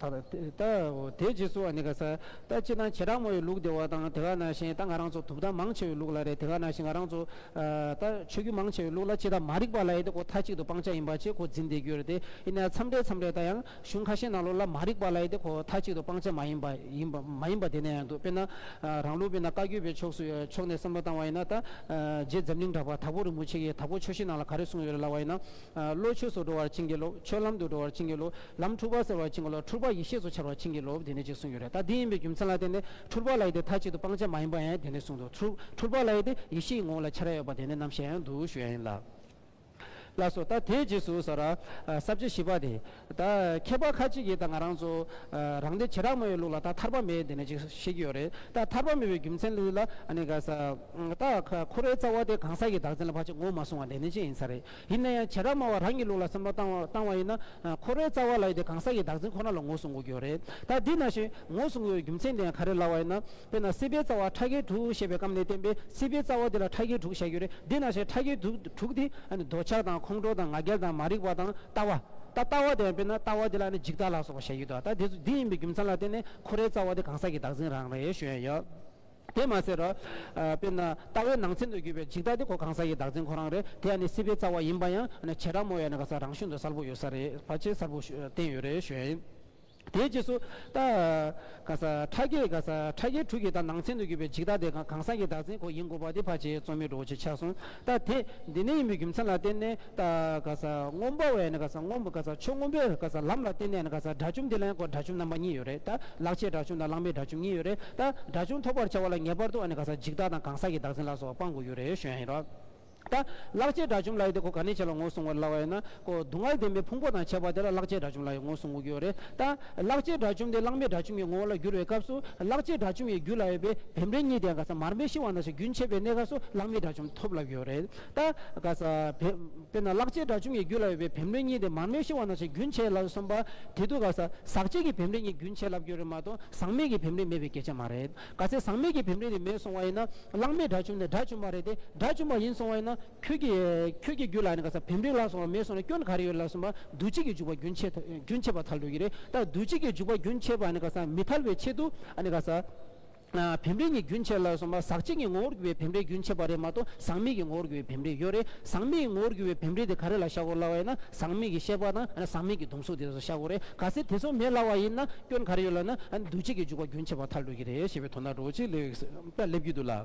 དང། དེའི་རྗེས་སུ་ཨ་ནི་ག་ས། ད་སྤྱིར་ན་བྱེ་བྲག་མོ་ཡི་ལུགས་དེ་བ་དང་དེ་ག་ན་བཞིན་ད་ང་རང་ཚོ་དུབ་བདག་མང་ཆེ་བའི་ལུགས་ལ་རེད་དེ་ག་ན་བཞིན་ང་རང་ཚོ། ད་ཆོས་རྒྱུད་མང་ཆེ་བའི་ལུགས་ལ་སྤྱི་དང་མ་རིག་པ་ལ་ཡེ་དེ་གོ་ཐ་གཅིག་ཏུ་སྤང་བྱ་ཡིན་པ་ཆེ་གོ་འཛིན་བདེ་རྒྱུ་རེད་དེ་ཨི་ནས་མཚམས་རེ་མཚམས་རེ་ད་ཡང་གཞུང་ཁ་ཤས་ནང་ལོགས་ལ་མ་རིག་པ་ལ་ཡེ་དེ་གོ་ཐ་གཅིག་ཏུ་སྤང་བྱ་མ་ཡིན་པ་ཡིན་པ་མ་ཡིན་པ་དེ་ནས་ཡང་འདུག་དཔེར་ན། རང་ལུགས་དཔེར་ན་བཀའ་བརྒྱུད་པའི་ཕྱོགས་སུ་ཕྱོགས་ནས་བསམ་བློ་བཏང་བ་ཡིན་ན་ད། རྗེ་འཛམ་གླིང་གྲགས་པ་དྭགས་པོ་རིན་པོ་ཆེ་གིས་དྭགས་པོ་ཆོས་ཤེས་ནང་ལ་ག་རེ་གསུངས་ཡོད་རེད་ལབ་བ་ཡིན་ན། བློ་ཆོས་སུ་འགྲོ་བར་བྱིན་གྱིས་རློབས། ཆོས་ལམ་དུ་འགྲོ་བར་བྱིན་གྱིས་རློབས། ལམ་འཁྲུལ་པ་སེལ་བར་བྱིན་གྱིས་རློབས། འཁྲུལ་པ་ཡེ་ཤེས་སུ་འཆར་བར་བྱིན་གྱིས་རློབས་དེ་ནས་ཅེས་གསུངས་ཡོད་རེད་ད་འདི་ཡིན་པའི་རྒྱུ་མཚན་ལ་བརྟེན་ནས་འཁྲུལ་པ་ལ་ཡེ་དེ་མཐའ་གཅིག་ཏུ་སྤང་བྱ་མ་ཡིན་པ་ཡང་དེ་ནས་གསུངས་འདུག་འཁྲུལ་པ་ལ་ཡེ་དེ་ཡེ་ཤེས་ཡི་ངོ་བོ་ལ་འཆར་ཡ་ཡོད་པ་དེ་ནས་རྣམ་བཤད་ཡང་འདུག་ཞུ་ཡ་ཡིན། ལགས་སོ། ད་དེའི་རྗེས་སུ་ཟོ་ར། སྲབ་བྱེད་བཞི་པ་དེ། ད་མཁས་པ་ཁ་ཅིག་གིས་ད་ང་རང་ཚོ། རང་སྡེ་བྱེ་བྲག་མོའི་ལུགས་ལ་ད་ཐར་པ་མེད་དེ་ནས་ཅེས་བཤད་ཀྱི་ཡོད་རེད་ད། ཐར་པ་མེད་པའི་རྒྱུ་མཚན་ལུས་ལ་ཨ་ནི་ག་ས། ད་ཁོ་རའི་རྩ་བ་དེ་གང་ཟག་གི་བདག་འཛིན་ལ་བར་ཆད་ངོ་མ་བཟུང་བ་དེ་ནས་ཅེས་ཡིན་ས་རེད། ཡིན་ན་ཡང་བྱེ་བྲག་སྨྲ་བ་རང་གི་ལུགས་ལ་བསམ་བློ་བཏང་བ་ཡིན་ན། ཁོ་རའི་རྩ་བ་ལ་ཡོད་དེ་གང་ཟག་གི་བདག་འཛིན་ཁོ་ན་ལ་ངོ་བཟུང་དགོས་ཀྱི་ཡོད་རེད། ད་འདི་ན་བཞིན་ངོ་བཟུང་དགོས་པའི་རྒྱུ་མཚན་དེ་ཡང་ག་རེ་ལ་བ་ཡིན་ན། དཔེར་ན་སྲིད་པའི་རྩ་བ་ཕྲ་རྒྱས་དྲུག་ཞེས་པའི་སྐབས་ནས་བསྟན་པའི་སྲིད་པའི་རྩ་བ་དེ་ལ་ཕྲ་རྒྱས་དྲུག་བྱ་རྒྱུ་རེད་འདི་ན་བཞིན་ཕྲ་རྒྱས་དྲུག་དེ། འདོད་ཆགས་དང་ཁོང་ཁྲོ་དང་ང་རྒྱལ་དང་མ་རིག་པ་དང་ལྟ་བ། ད་ལྟ་བ་དེ་ཡང་དཔེར་ན་ལྟ་བ་དེ་ལ་ནི་འཇིག་ལྟ་ལ་སོགས་པ་བྱ་ཡུལ་དོ་ད་འདི་ཡིན་པའི་རྒྱུ་མཚན་ལ་བརྟེན་ནས་ཁོ་རའི་རྩ་བ་དེ་གང་ཟག་གི་བདག་འཛིན་རང་རེད་ཞུ་ཡ་ཡོད། དེ་མ་ཟེར། དཔེར་ན། ལྟ་བའི་ནང་ཚན་དུ་གྱུར་པའི་འཇིག་ལྟ་དེ་གོ་གང་ཟག་གི་བདག་འཛིན་ཁོ་རང་རེད། དེ་ཡང་ནི་སྲིད་པའི་རྩ་བ་ཡིན་པ་ཡང། བྱེ་བྲག་རྨོ་ཡ་ནི་ག་ས་རང་གཞུང་དུ་གསལ་པོ་ཡོད་ས་རེད། བ་ཅས་གསལ་པོ་བསྟན་ཡོད་རེད་ཞུ་ཡ་ཡིན། དེའི་རྗེས་སུ། ལྟ། ག་ས། ཕྲ་རྒྱས་ག་ས། ཕྲ་རྒྱས་དྲུག་གི་ལྟ་ནང་ཚན་དུ་གྱུར་པའི་འཇིག་ལྟ་དེ་གང་ཟག་གི་བདག་འཛིན་ཁོ་ཡིན་དགོས་པ་དེ་བ་ཅས་རྩོམ་མེད་འགྲོ་བོ་ཆེ་ཆགས་སོང། ད་དེ་འདི་ནས་ཡིན་པའི་རྒྱུ་མཚན་ལ་བརྟེན་ནས་ད་ག་ས་སྔོན་པོ་བས་ན་ག་ས་སྔོན་པོ་ག་ས་ཆོས་སྔོན་པོའི་ག་ས་ལམ་ལ་བརྟེན་ནས་ན་ག་ས་དགྲ་བཅོམ་དེ་ལ་ཡང་དགྲ་བཅོམ་རྣམ་པ་གཉིས་ཡོད་རེད་ད་ལག་ཆའི་དགྲ་བཅོམ་དང་ལག་མའི་དགྲ་བཅོམ་གཉིས་ཡོད་རེད་ད་དགྲ་བཅོམ་ཐོབ་པར་བྱ་བ་ལ་ངེས་པར་དུ་ན་ག་ས་འཇིག་བདག་དང་གང་ཟག་གི་བདག་འཛིན་ལ་སོགས་པ་སྤང་དགོས་རྒྱུ་རེད་ཞོན་ཡིན་རོགས། ད་ལག་ཆའི་དགྲ་བཅོམ་ལ་ཡོད་དེ་ཁོ་ག་ནས་བྱས་ལ་ངོ་བསྲུང་བར་སླ་བ་ཡོད་ན་ཀོ། སྡུག་བསྔལ་ལྡན་པའི་ཕུང་པོ་དང་བྱེད་པ་དེ་ལ་བརླག་བྱའི་དགྲ་བཅོམ་ལ་ཡང་ངོས་སུ་ངོ་རྒྱུ་རེད་ད། བརླག་བྱའི་དགྲ་བཅོམ་དེ་བརླག་མེད་དགྲ་བཅོམ་གྱི་ངོ་བོ་ལ་འགྱུར་བའི་སྐབས་སུ་བརླག་བྱའི་དགྲ་བཅོམ་ཡང་རྒྱུ་ལ་ཡོད་པའི་བེམ་རིག་གཉིས་ལྡན་ག་ས་མར་མེ་ཤི་བ་ན་སོགས་རྒྱུན་ཆད་པའི་གནས་སྐབས་སུ་བརླག་མེད་དགྲ་བཅོམ་ཐོབ་ལབ་ཡོད་རེད་ད། ག་ས། དཔེར་ན་བརླག་བྱའི་དགྲ་བཅོམ་གྱི་རྒྱུ་ལ་ཡོད་པའི་བེམ་རིག་གཉིས་ལྡན་མར་མེ་ཤི་བ་ན་སོགས་རྒྱུན་ཆད་ལ་སོམས་པ་དེ་དུས་ག་ས། ཟག་བཅས་ཀྱི་བེམ་རིག་གཉིས་རྒྱུན་ཆད་ལབ་རྒྱུ་རེད་མ་གཏོགས་ཟག་མེད་ཀྱི་བེམ་རིག་མེད་པའི་གལ་ཆ་མ་རེད། ག་ཚད་ཟག་མེད་ཀྱི་བེམ་རིག་ནི་མེད་སོང་བ་ཡིན་ན་བརླག་མེད་དགྲ་བཅོམ་ནི་དགྲ་བཅོམ་པ་རེད་དེ་དགྲ་བཅོམ་པ་ཡིན་སོང་བ་ཡིན་ན། ཁྱོད་ཀྱིས་ཁྱོད་ཀྱི་རྒྱུད་ལ་ནི་ག་ས་བེམ་རིག་ལ་སོགས་པ་མེད་སོང་ན་སྐྱོན་ག་རེ་ཡོད་ལབ་སོང་བར་འདུ་བྱེད་ཀྱི་འཇུག་པ་རྒྱུན་ཆད་རྒྱུན་ཆད་པར་ཐལ་འགྲོ་གི་རེད་ད་འདུ་བྱེད་ཀྱི་འཇུག་པ་རྒྱུན་ཆད་པ་ནི་ག་ས་མི་ཐལ་བའི་ཆེད་དུ་ནི་ག་ས་བེམ་རིག་ནི་རྒྱུན་ཆད་ལབ་སོང་བར་ཟག་བཅས་ཀྱི་ངོ་བོར་གྱུར་པའི་བེམ་རིག་རྒྱུན་ཆད་པ་རེད་མ་གཏོགས་ཟག་མེད་ཀྱི་ངོ་བོར་གྱུར་པའི་བེམ་རིག་ཡོད་རེད་ཟག་མེད་ཀྱི་ངོ་བོར་གྱུར་པའི་བེམ་རིག་དེ་ག་རེ་ལ་ཤ་གོ་སླ་བ་ཡིན་ན་ཟག་མེད་ཀྱི་ཤེས་པ་དང་ཟག་མེད་ཀྱི་སྡོམ་གཟུགས་དེ་ཚོ་ཤ་གོ་རེད་ག་ས་དེ་ཚོ་མེད་སླ་བ་ཡིན་ན་སྐྱོན་ག་རེ་ཡོད་ལབ་ན་འདུ་བྱེད་ཀྱི་འཇུག་པ་རྒྱུན་ཆད་པར་ཐལ་འགྲོ་གི་རེད་ཞེས་པའི་དོ་ན་འགྲོ་བ་ཅིག་སླེབས་ཀྱི་འདུག་ལ།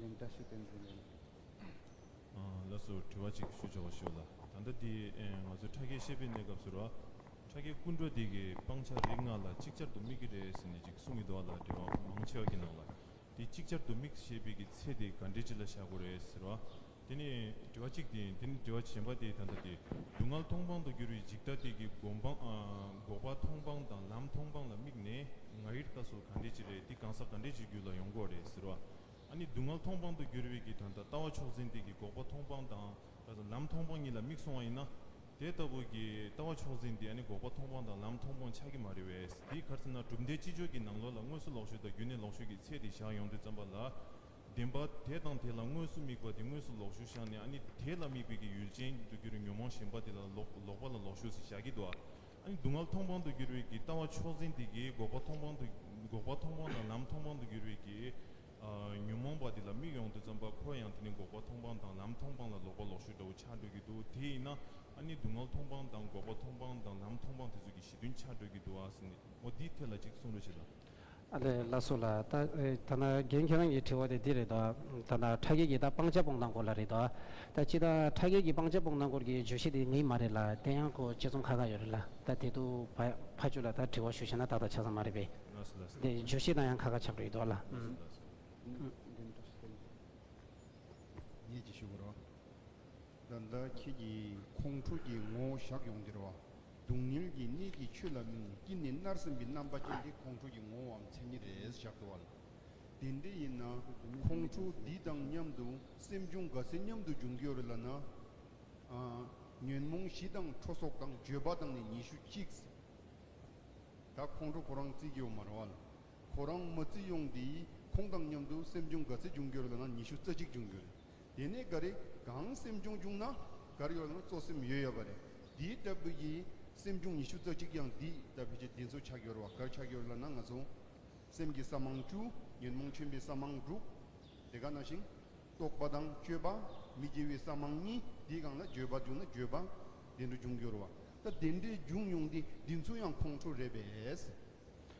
ལན་བརྒྱ་ཞུ་དོན་ཅི་རེད། ལ་སོ་དྲི་བ་གཅིག་ཞུ་ཆོག་པ་ཞུ་ལ། ད་ལྟ་འདི་ང་ཚོའི་ཕྲ་རྒྱས་ཤེས་དཔལ་གནས་སྐབས་སུ་ར། ཕྲ་རྒྱས་ཀུན་འགྲོ་འདི་གི་སྤང་བྱ་རིགས་ལྔ་ལ་གཅིག་ཅར་དུ་དམིགས་ཀྱི་རེད་ཟེར་ནས་ཅིག་གསུང་གི་འདུག་ལ་འགྲེལ་བ་མང་ཆེ་བ་གྱི་ནང་ལ། འདི་གཅིག་ཅར་དུ་དམིགས་ཞེས་པའི་གི་ཚེ་དེ་ག་འགྲེལ་ཅི་ལ་བཞག་དགོས་རེད་ཟེར་བ། དེ་ནི་དྲི་བ་གཅིག་སྟེ་དེ་ནི་དྲི་བ་གཞན་པ་སྟེ་ད་ལྟ་སྟེ་སྡུག་བསྔལ་མཐོང་སྤང་དུ་གྱུར་བའི་འཇིག་ལྟ་སྟེ་གྱི་འགོག་པ་མཐོང་སྤང་དང་ལམ་མཐོང་སྤང་ལ་དམིགས་ནས་ང་ཡིར་ལྟ་སོགས་ག་འདྲའི་ཅི་རེད་འདི་གང་ཟག་ག་འདྲའི་ཅིག་རྒྱུད་ལ་ཡོང་གོ་རེད་ཟེར་བ་ཨ་ནི་སྡུག་བསྔལ་མཐོང་སྤང་དུ་གྱུར་བའི་གྱི་ད་ལྟ་ལྟ་བ་ཕྱོགས་འཛིན་སྟེ་གྱི་འགོག་པ་མཐོང་སྤང་དང་ལམ་མཐོང་སྤང་གཉིས་ལ་དམིགས་སོང་བ་ཡིན་ན། དེ་ལྟ་བུ་གྱི་ལྟ་བ་ཕྱོགས་འཛིན་འདི་ཨ་ནི་འགོག་པ་མཐོང་སྤང་དང་ལམ་མཐོང་སྤང་ཆགས་ཀྱི་མ་རེད་བས་འདིའི་གར་ཚིག་ན་གྲུབ་མཐའི་ཅི་འབྱོར་གྱི་ནང་ལོགས་ལ་དངོས་སུ་ལོག་ཤོས་དང་རྒྱུད་ནས་ལོག་ཤོས་ཀྱི་ཚད་དེ་བཞག་ཡོང་དུས་བརྩམས་པ་ལ། བདེན་པ་དེ་དང་དེ་ལ་དངོས་སུ་དམིགས་པ་དེ་དངོས་སུ་ལོག་ཞུགས་བཞག་ནས་ཨ་ནི་དེ་ལ་དམིགས་པའི་གི་ཡུལ་ཅན་དུ་གྱུར་བའི་ཉོན་མོངས་ཞེན་པ་དེ་ལ་ལོག་པ་ལ་ལོག་ཞུགས་སུ་བཞག་གི་དུ་ཨ་ནི་སྡུག་བསྔལ་མཐོང་སྤང་དུ་གྱུར་བའི་གི་ལྟ་བ་ཕྱོགས་འཛིན་དེ་གི་འགོག་པ་མཐོང་སྤང་དུ་འགོག་པ་མཐོང་སྤང་དང་ལམ་མཐོང་སྤང་དུ་གྱུར་བའི་གི་ཉོན་མོངས་པ་དེ་ལ་དམིགས་ཡོང་དུ་བརྩམས་པ་ཁོ་ཡང་དེ་ནི་འགོག་པ་མཐོང་སྤང་དང་ལམ་མཐོང་སྤང་ལ་ལོག་པ་ལོག་ཞུགས་འདྲ་བོ་ཆགས་འགྲོ་གི་དུ་དེ་ཡིན་ན་ཨ་ནི་སྡུག་བསྔལ་མཐོང་སྤང་དང་འགོག་པ་མཐོང་སྤང་དང་ལམ་མཐོང་སྤང་དེ་ཚོ་གི་གཞི་མཐུན་ཆགས་འགྲོ་གི་དུ་ཨ་སི་ནའོ་འདིའི་ཐད་ལ་ཅིག་གསུང་རོགས་བྱེད་དང། ཨ་ལས་ལ་སོགས་ལ་ད་ད་ན་རྒན་ཁྱེད་རང་གིས་དྲི་བ་དེ་འདི་རེད་དོ། ད་ན་ཕྲ་རྒྱས་ཀྱི་ད་སྤང་བྱ་སྤོང་སྟངས་སྐོར་ལ་རེད་དོ། ད་སྤྱི་ད་ཕྲ་རྒྱས་ཀྱི་སྤང་བྱ་སྤོང་སྟངས་སྐོར་གྱི་བརྗོད་གཞི་དེ་མིན་མ་རེད་ལ་དེ་ཡང་ཁོ་དཔྱད་རྩོམ་ཁ་ཁ་ཡོད་རེད་ལ་ད་དེ་དུ་བ་ཕ་ཅུ་ལ་ད་དྲི་བ་ཞུ་ཤེས་ན་ཏག་ཏག་ཆགས་ས་མ་རེད་པས། དེ་བརྗོད་གཞི་དང་ཡང་ཁ་ཁ་ཆགས་རེད་དོ་ལ། ཉིད་ཀྱིས་ཞུ་གོ་རོ། ད་ད་ཁྱེད་ཀྱིས་ཁོང་ཕྲུག་གི་ངོ་བོ་བཞག་ཡོང་འདིར་བ། སྡུག་བསྔལ་གྱི་གནས་ཀྱི་ཆོས་ལ་གནོད་ནས་སྐྱིད་ནས་མནར་སེམས་ཀྱི་རྣམ་པ་ཅན་དེ་ཁོང་ཁྲོ་ཡི་ངོ་བོའམ་མཚན་ཉིད་རེད་ཞག་བདེ་བ་ལ། དེ་འདྲ་ཡིན་ན། ཁོང་ཁྲོ་འདི་དང་མཉམ་དུ་སེམས་བྱུང་དགའ་ཚལ་མཉམ་དུ་འབྱུང་གི་ཡོད་རེད་ལ་ན། ཉོན་མོངས་བཞི་དང་ཁྲོ་སོགས་དང་བརྗོད་པ་དང་ནི་ཉི་ཤུ་གཅིག། ད་ཁོང་ཁྲོ་ཁོ་རང་བརྩི་གི་ཡོད་མ་རེད་བ་ལ། ཁོ་རང་མ་བརྩི་ཡོང་དུས་ཁོང་དང་མཉམ་དུ་སེམས་བྱུང་དགའ་ཚལ་འབྱུང་གི་ཡོད་རེད་ལ་ན་ཉི་ཤུ་རྩ་གཅིག་འབྱུང་གི་ཡོད་རེད། དེ་ནས་འགའ་རེས་གང་སེམས་བྱུང་བྱུང་ན་འགར་ཡོད་ན་གཙོ་སེམས་ཡོད་ཡོད་པ་རེད། འདི་ལྟ་བུ་ཡི་སེམས་བྱུང་ཉི་ཤུ་རྩ་གཅིག་ཀྱང་འདི་ལྟ་བུ་ཅི་འདི་ཚོ་ཆགས་ཡོད་རེད་བ་འགར་ཆགས་ཡོད་ལ་ན་ང་ཚོ་སེམས་ཀྱི་ས་མང་བཅུ་ཉོན་མོངས་ཆེན་པོའི་ས་མང་དྲུག་དེ་ག་ན་ཞིང་རྟོག་པ་དང་དཔྱོད་པ་མི་དགེ་བའི་ས་མང་གཉིས་འདི་གང་ལ་འགྱོད་པ་བྱུང་ན་འགྱོད་པ་དེ་འདྲ་འབྱུང་འགྱུར་བ་ད་དེ་འདྲའི་བྱུང་མྱོང་འདི་འདི་ཚོ་ཡང་ཁོང་ཁྲོ་རེད་པས།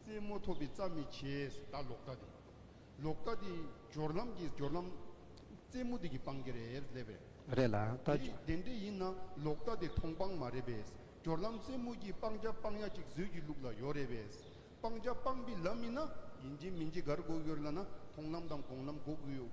རྩེད་མོ་ཐོབ་པའི་རྩ་མི་བྱེད་ད་ལོག་ལྟ་དེ། ལོག་ལྟ་དེ་སྦྱོར་ལམ་གྱི་སྦྱོར་ལམ། རྩེད་མོ་དེ་གི་སྤང་གི་རེད་སླེབས་པས། རེད་ལ་ལྟ། དེ་རིགས་བདེན་འབྲས་ཡིན་ན་ལོག་ལྟ་དེ་མཐོང་སྤང་མ་རེད་པས། སྦྱོར་ལམ་རྩེད་མོ་གྱི་སྤང་བྱ་སྤང་ཡ་ཅིག་བཟོས་ཀྱི་ལུགས་ལ་ཡོད་རེད་པས། སྤང་བྱ་སྤང་པའི་ལམ་མིན་ན། ཡིན་གྱི་མིན་གྱི་གར་འགོག་ཡོད་ལ་ན་མཐོང་ལམ་དང་དགོངས་ལམ་འགོག་གི་ཡོད།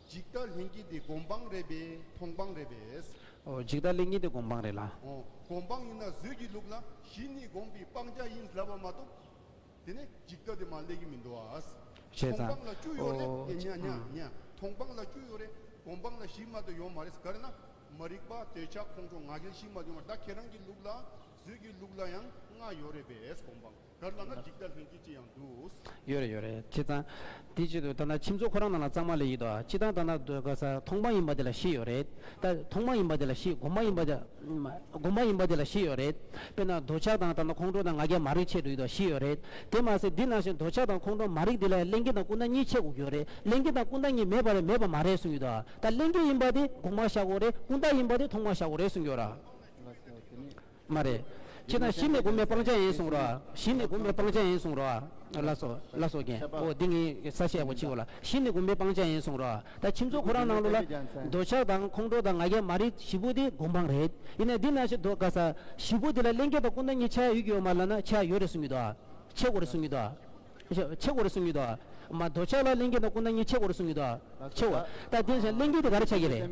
འཇིག་ལྟ་ལྷན་སྐྱེས་དེ་སྒོམ་སྤང་རེད་པས་མཐོང་སྤང་རེད་པས། འོ་འཇིག་ལྟ་ལྷན་སྐྱེས་དེ་སྒོམ་སྤང་རེད་ལ། འོ་སྒོམ་སྤང་ཡིན་ན་བཟོད་ཀྱི་ལུགས་ལ་གཞི་ནི་སྒོམ་པའི་སྤང་བྱ་ཡིན་ཟླ་བ་མ་གཏོགས། དེ་ནས་འཇིག་ལྟ་དེ་མ་ལས་ཀྱི་མི་འདུག་ཨ། བྱས་མཐོང་ཙང། སྤང་ལ་བཅུ་ཡོད་རེད་འོ་ཨེ་འོ་འོ་འོ། མཐོང་སྤང་ལ་བཅུ་ཡོད་རེད་སྒོམ་སྤང་ལ་གཞི་མ་དེ་ཡོད་མ་རེད་ག་རེ་ན། མ་རིག་པ་འདོད་ཆགས་ཁོང་ཁྲོ་ང་རྒྱལ་གཞི་མ་དེ་ཡོད་མ་རེད་ད་ཁྱེད་རང་གི་ལུགས་ལ་བཟོད་ཀྱི་ལུགས་ལ་ཡང་ལྔ་ཡོད་རེད་པས་སྒོམ་སྤང། དགར་ལ་ང་འཇིག་ལྟ་ལྷན་སྐྱེས་ཅི་ཡང་འདུག། ཡོད་རེད་ཡོད་རེད་ཁྱེད་ཚང། དེ་ཅི་འདུག་ད་ལྟ་ཁྱིམ་ཚོགས་ཁོ་རང་ནང་ལ་གཙང་མ་ལས་ཡིད་དོ་ཅི་ལྟར་ད་ལྟ་སྡོད་དགའ་ས་ཐོག་མ་ཡིན་པ་དེ་ལ་ཤི་ཡོད་རེད་ད། ཐོག་མ་ཡིན་པ་དེ་ལ་ཤི་དགོ་མ་ཡིན་པ་དེ། དགོ་མ་ཡིན་པ་དེ་ལ་ཤི་ཡོད་རེད། དཔེར་ན་རྡོ་ཆག་དང་ད་ལྟ་ཁོང་ཁྲོ་དང་ང་རྒྱལ་མ་རིག་ཆེད་དུ་ཡིད་དོ་ཤི་ཡོད་རེད། དེ་མ་ཟད་འདི་ནང་བཞིན་རྡོ་ཆག་དང་ཁོང་ཁྲོ་མ་རིག་དེ་ལས་གླེན་རྒྱལ་དང་ཀུན་ད་གཉིས་ཆེ་དགོ་གྱོ་རེད་གླེན་རྒྱལ་དང་ཀུན་ད་གཉིས་མེད་པ་རེད་མེད་པ་མ་རེད་གསུང་གྱི་འདུག་ད་གླེན་རྒྱལ་ཡིན་པ་དེ་དགོ་མ་བཞག་གོ་རེད་ཀུན་ད་ཡིན་པ་དེ་ཐོག་མ་བཞག་གོ་རེད་གསུང་གྱོ་ར། མ་རེད། ཁྱེད་རང་གཞི་ནས་སྒོམ་པའི་སྤང་བྱ་ཡིན་གསུངས་རོགས། གཞི་ནས་སྒོམ་པའི་སྤང་བྱ་ཡིན་གསུངས་རོགས། ལ་སོ། ལ་སོ་རྒན། འོ་འདི་ངའི་ས་བཤད་གོ་ཕྱི་གོ་ལ། གཞི་ནས་སྒོམ་པའི་སྤང་བྱ་ཡིན་གསུངས་རོགས། ད་ཁྱིམ་ཚོགས་ཁོ་རང་ནང་ལུགས་ལ། འདོད་ཆགས་དང་ཁོང་ཁྲོ་དང་ང་རྒྱལ་མ་རིག་བཞི་པོ་དེ་སྒོམ་སྤང་རེད། ཡིན་ནའི་འདི་ན་ཞེ་འདོགས་དཀའ་ས། བཞི་པོ་དེ་ལ་གླེང་གལ་དང་ཀུན་ད་གཉིས་ཆ་ཡོད་ཀྱི་ཡོད་མ་ལ་ན་ཆ་ཡོད་རེད་གསུངས་ཀྱི་འདུག། ཆེ་གོ་རེད་གསུངས་ཀྱི་འདུག། ཆེ་གོ་རེད་གསུངས་ཀྱི་འདུག། མ་འདོད་ཆགས་ལ་གླེང་གལ་དང་ཀུན་ད་གཉིས་ཆེ་གོ་རེད་གསུངས་ཀྱི་འདུག། ཆེ་གོ། ད་འདི་ན་ཞེ་གླེང་གལ་དེ་ག་རེ་ཆགས་ཀྱི་རེད།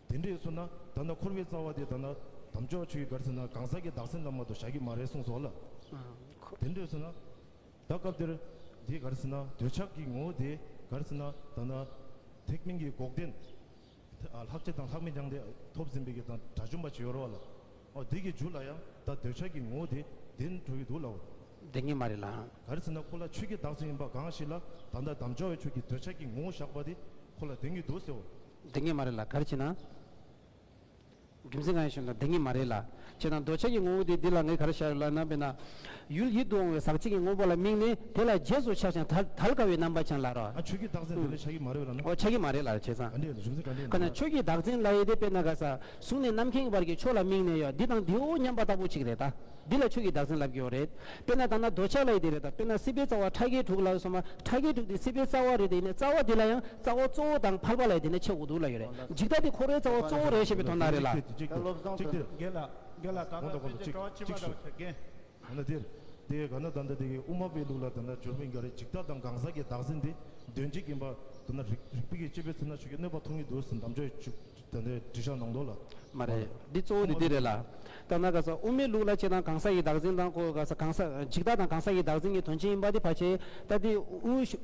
དེ་འདྲས་སོང་ན་ད་ནི་འཁོར་བའི་རྩ་བ་དེ་ད་ནི་དམ་ཆོས་ཆུ་ཡི་གར་ཟིན་ན་གང་ཟག་གི་བདག་སེམས་ལ་མ་གཏོགས་བཞག་གི་མ་རེད་གསུངས་སོ། ལ་འཁོར། དེ་འདྲས་སོང་ན་ད་སྐབས་འདིར་དེའི་གར་ཟིན་ན་འདོད་ཆགས་ཀྱི་ངོ་བོ་དེའི་གར་ཟིན་ན་ད་ནི་ཐེག་དམན་གྱི་འགོག་བདེན། ལྷག་ཆད་དང་ལྷག་མེད་སྦྱངས་ཏེ་ཐོབ་ཟིན་པའི་གི་དང་དགྲ་བཅོམ་པ་བྱེད་ཡོར་བ་ལ། འོ་འདི་གི་འཇུག་ལ་ཡང་ད་འདོད་ཆགས་ཀྱི་ངོ་བོ་དེ་བདེན་འགྲོ་གི་འདུག་ལའོ། བདེན་གྱི་མ་རེད་ལ། གར་ཟིན་ན་ཁོ་ལ་ཆོས་ཀྱི་བདག་སེམས་ཡིན་པ་གང་ཞིག་ལ་ད་ནི་དམ་ཆོས་ཆུ་ཀྱི་འདོད་ཆགས་ཀྱི་ངོ་བོ་བཞག་པ་དེ་ཁོ་ལ་བདེན་གྱི་འདུག་ཟེར་བ་བདེན་གཉིས་མ་རེད་ལ་གར་བྱེད་ན། རྒྱུ་མཚན་གང་ཡིན་ཞུ་ན་བདེན་གཉིས་མ་རེད་ལ། བྱེད་ན་འདོད་ཆགས་ཀྱི་ངོ་བོ་དེ་འདི་ལ་ངས་གར་བྱ་ཡོད་ལ་ན་བས་ན། ཡུལ་ཡིད་དུ་འོང་བའི་ཟག་བཅས་ཀྱི་དངོས་པོ་ལ་དམིགས་ནས་དེ་ལ་རྗེས་སུ་ཆགས་ཤིང་དལ་དཀའ་བའི་རྣམ་པ་ཅན་ལ་རོ། ཨ་ཆོས་ཀྱི་བདག་འཛིན་དེ་ལ་ཆགས་ཀྱི་མ་རེད་བས་ན། འོ་ཆགས་ཀྱི་མ་རེད་ལ་བྱས་ཙང། ག་འདྲས་རེད་རྒྱུ་མཚན་ག་འདྲས་ཡིན་ན། ཆོས་ཀྱི་བདག་འཛིན་ལ་ཡེ་དེ་བས་ན་ག་ས་གཟུགས་ནས་རྣམ་མཁྱེན་གྱི་བར་གྱི་ཕྱོགས་ལ་དམིགས་ནས་ཡོད་འདི་དང་འདིའོ་སྙམ་པ་ལྟ་བུ་ཅིག་རེད་ད། འདི་ལ་ཆོས་ཀྱི་བདག་འཛིན་ལབ་ཀྱིའོ་རེད། དཔེར་ན་ད་ནང་རྡོ་ཆག་ལ་ཡི་དེ་རེད་དམ་དཔེར་ན་སྲིད་པའི་རྩ་བ་ཁྲ་ཁའི་དྲུག་ལ་ཡོད་སོང་མ་ཁྲ་ཁའི་དྲུག་དེ་སྲིད་པའི་རྩ་བ་རེད་དེ་ཡིན་ནས་རྩ་བ་དེ་ལ་ཡང་རྩ་བ་གཙོ་བོ་དང་འཕགས་པ་ལ་ཡི་དེ་ནས་ཆེ་དགུ་དུག་ལ་ཡོད་རེད་འཇིག་ལྟ་དེ་འཁོར་བའི་རྩ་བ་གཙོ་བོ་རེད་ཞེས་པའི་དོན་དག་རེད་ལ། ད་སློབ་སྦྱོང་དོན་དུ་འགལ་ལ་འགལ་ལ་གང་ལ་ཕན་ཅིང་གང་ཕྱི་མ་དང་ཕྱི་འགལ། ཡང་ན་དེར་དེ་ག་ན་ད་ལྟ་དེ་གའི་དབུ་མ་པའི་ལུགས་ལ་ད་ལྟ་འབྱོར་མི་འགའ་རེས་འཇིག་ལྟ་དང་གང་ཟག་གི་བདག་འཛིན་དེ་འདོན་བྱེད་ཀྱིན་པ་ད་ནང་རིགས་པས་ཀྱི་དཔྱད་པས་ཚོར་ན་ཆོས་ཀྱི་གནོད་པ་ཐོབ་ངེས་འདུག་ཟེར་གདམ་བྱ་ཡོད། དོན་དེ་འདྲི་ཞག་ནང་དོགས་ལ། མ་རེད། འདི་གཙོ་བོ་དེ་དེ་རེད་ལ། ད་ནག་ག་ས་དབུ་མའི་ལུགས་ལ་ཆེ་དང་གང་ས་ཡི་བདག་འཛིན་དང་ཁོ་ག་ས་གང་ས་འཇིག་ལྟ་དང་གང་ས་ཡི་བདག་འཛིན་གྱི་དོན་ཅི་ཡིན་པ་དེ་ཕ་ཆེ། ད་དེ་དབུ་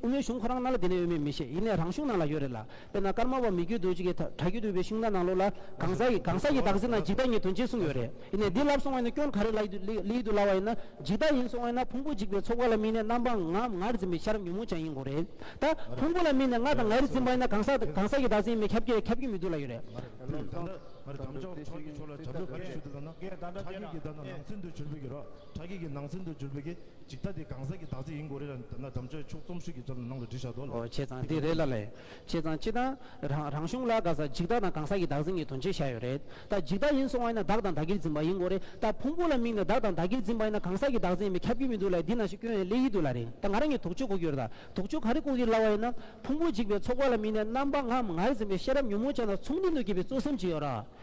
མའི་གཞུང་ཁོ་རང་ནང་ལ་དེ་ནས་ཡོད་མེད་མི་ཤེས་ཡིན་ནས་རང་གཞུང་ནང་ལ་ཡོད་རེད་ལ། དཔེར་ན་ཀརྨ་པ་མི་རྒྱུད་དུ་ཅིག་གིས་དྲ་རྒྱུད་དུ་བའི་གཞུང་དང་ནང་ལུགས་ལ་གང་ས་ཡི་གང་ས་ཡི་བདག་འཛིན་དང་འཇིག་ལྟ་གཉིས་དོན་ཅི་གསུངས་ཡོད་རེད། ཡིན་ནས་འདི་ལབ་སོང་བ་ཡིན་ན་སྐྱོན་ག་རེ་ལ་ཡིད་དུ་སླ་བ་ཡིན་ན་འཇིག་ལྟ་ཡིན་སོང་བས་ན་ཕུང་པོ་འཇིག་པའི་ཚོགས་ཀ་ལ་སྨིན་ནས་རྣམ་པ་ང་ངར་འཛིན་པའི་ཤར་ཉོན་མོངས་ཅན་ཡིན་དགོངས་རེད་ད། ཕུང་པོ་ལ་སྨིན་ནས་ང་དང་ངའི་རིགས་འཛིན་པ་ཡིན་ན་གང་ཟག་གང་ཟག་གི་བདག་འཛིན་མེད་ཁྱབ་ཀྱི་ཁྱབ་ཀྱི་མི་འདུག་ལ་ཡོད་རེད། མ་རེད་ད་ལོ་བདག་འདྲ་མ་རེད་དམ་བཅའ་བ་ཕྱོགས་ཀྱི་ཕྱོགས་ལ་དྲ་འབུ་ག་རེ་ཞུ་འདུག་ད་ན། དྲ་རྒྱུག་གི་ད་ན་ནང་ཚུན་དུ་བྱུར་བུ་གི་རོ་དྲ་རྒྱུག་གི་ནང་ཚུན་དུ་བྱུར་བུ་གི་འཇིག་ལྟ་དེ་གང་ཟག་གི་བདག་འཛིན་ཡིན་དགོངས་རེད་ད་ན་དམ་བཅའ་བའི་ཕྱོགས་རྩོམ་ཤུགས་ཀྱི་ཚོར་ནང་ལ་འབྲི་བཞག་འདུག་ལ། བྱས་ཙང་དེ་རེད་ལ་ལས། བྱས་ཙང་སྤྱི་དང། རང་རང་གཞུང་ལ་དགའ་ས་འཇིག་བདག་དང་གང་ཟག་གི་བདག་འཛིན་གྱི་དོན་བྱེད་བཞག་ཡོད་རེད་ད། འཇིག་བདག་ཡིན་སོང་བ་ཡིན་ན་བདག་དང་བདག་གིར་འཛིན་པ་ཡིན་དགོས་རེད་ད། ཕུང་པོ་ལ་དམིགས་ནས་བདག་དང་བདག་གིར་འཛིན་པ་ཡིན་ན་གང་ཟག་གི་བདག་འཛིན་ཡིན་པས་ཁྱབ་ཀྱི་མི་འདུག་ལ་འདི་ན་ཞིག་སྐྱོན་ཡོད་ལེ་ཡིད་འདུག་ལ་རེད་ད་ང་རང་གིས་དོགས་དཔྱོད་གོ་གྱུར་ད། དོགས་དཔྱོད་ག་རེ་གོ་གིར་སླ་བ་ཡིན་ན། ཕུང་པོ་འཇིག་པའི་ཚོགས་པ་ལ་དམིགས་ནས་རྣམ་པ་ངམ་ངར་འཛིན་པའི་ཤེས་རབ་ཉོན་མོངས་ཅན་དང་མཚུངས་ལྡན་དུ་སྐྱེས་པའི་གཙོ་སེམས་ཅི་ཡོད་ར།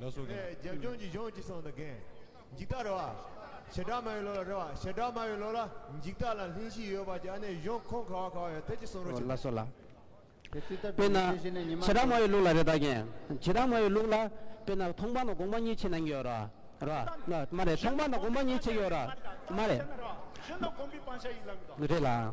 ལས་རྒྱབ་ལྗོངས་ཀྱི་གཞུང་གཅིག་ཚང་དུ་འགེངས། འཇིག་ལྟ་རེ་བ། བྱེ་བྲག་མ་ཡི་ལོ་ལ་རེ་བ་བྱེ་བྲག་མ་ཡི་ལོ་ལ་འཇིག་ལྟ་ལ་ལྷིང་གཞི་ཡོད་པ་གྱི་ཨ་ནེ་གཞུང་ཁོངས་ཁ་བ་ཁ་བ་ཡོད་ཐད་ཀྱི་གསུང་རོགས་ཞུ། དཔེར་ན། བྱེ་བྲག་མ་ཡི་ལུགས་ལ་རེ་བདག་འགེངས། བྱེ་བྲག་མ་ཡི་ལུགས་ལ། དཔེར་ན་མཐོང་སྤང་དང་དགོངས་པ་གཉིས་ཆེད་གནང་གི་ཡོད། རེད་ལ། མ་རེད། མཐོང་སྤང་དང་དགོངས་པ་གཉིས་ཆེད་ཡོད། རེད་ལ། མ་རེད། རེད་ལ།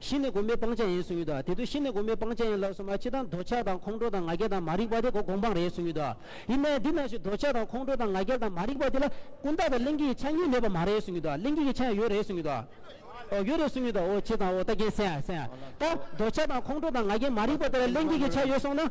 གཞི་ནི་སྒོམ་པའི་སྤང་བྱ་ཡིན་གསུངས་ཡོད་དོ། དེ་དུས་གཞི་ནི་སྒོམ་པའི་སྤང་བྱ་ཡིན་ལབ་སོང་བ་སྤྱི་དང་འདོད་ཆགས་དང་ཁོང་ཁྲོ་དང་ང་རྒྱལ་དང་མ་རིག་པ་དེ་གོ་གོམ་སྤང་རེད་གསུངས་ཡོད་དོ། ཡིན་ནའི་འདི་ན་བཞིན་འདོད་ཆགས་དང་ཁོང་ཁྲོ་དང་ང་རྒྱལ་དང་མ་རིག་པ་དེ་ལ་ཀུན་བརྟགས་དང་གླེང་གེ་ཡི་ཆ་གཉིས་མེད་པ་མ་རེད་གསུངས་ཡོད་དོ། གླེང་གེ་ཡི་ཆ་ཡང་ཡོད་རེད་གསུངས་ཡོད་དོ། འོ་ཡོད་རེད་གསུངས་ཡོད་དོ་འོ་བྱས་ཙང་འོ་ལྟ་མཁན་སེང་ཡ་སེང་ཡ། ད་འདོད་ཆགས་དང་ཁོང་ཁྲོ་དང་ང་རྒྱལ་མ་རིག་པ་དེ་ལ་གླེང་གེ་ཡི་ཆ་ཡོད་སོང་ན།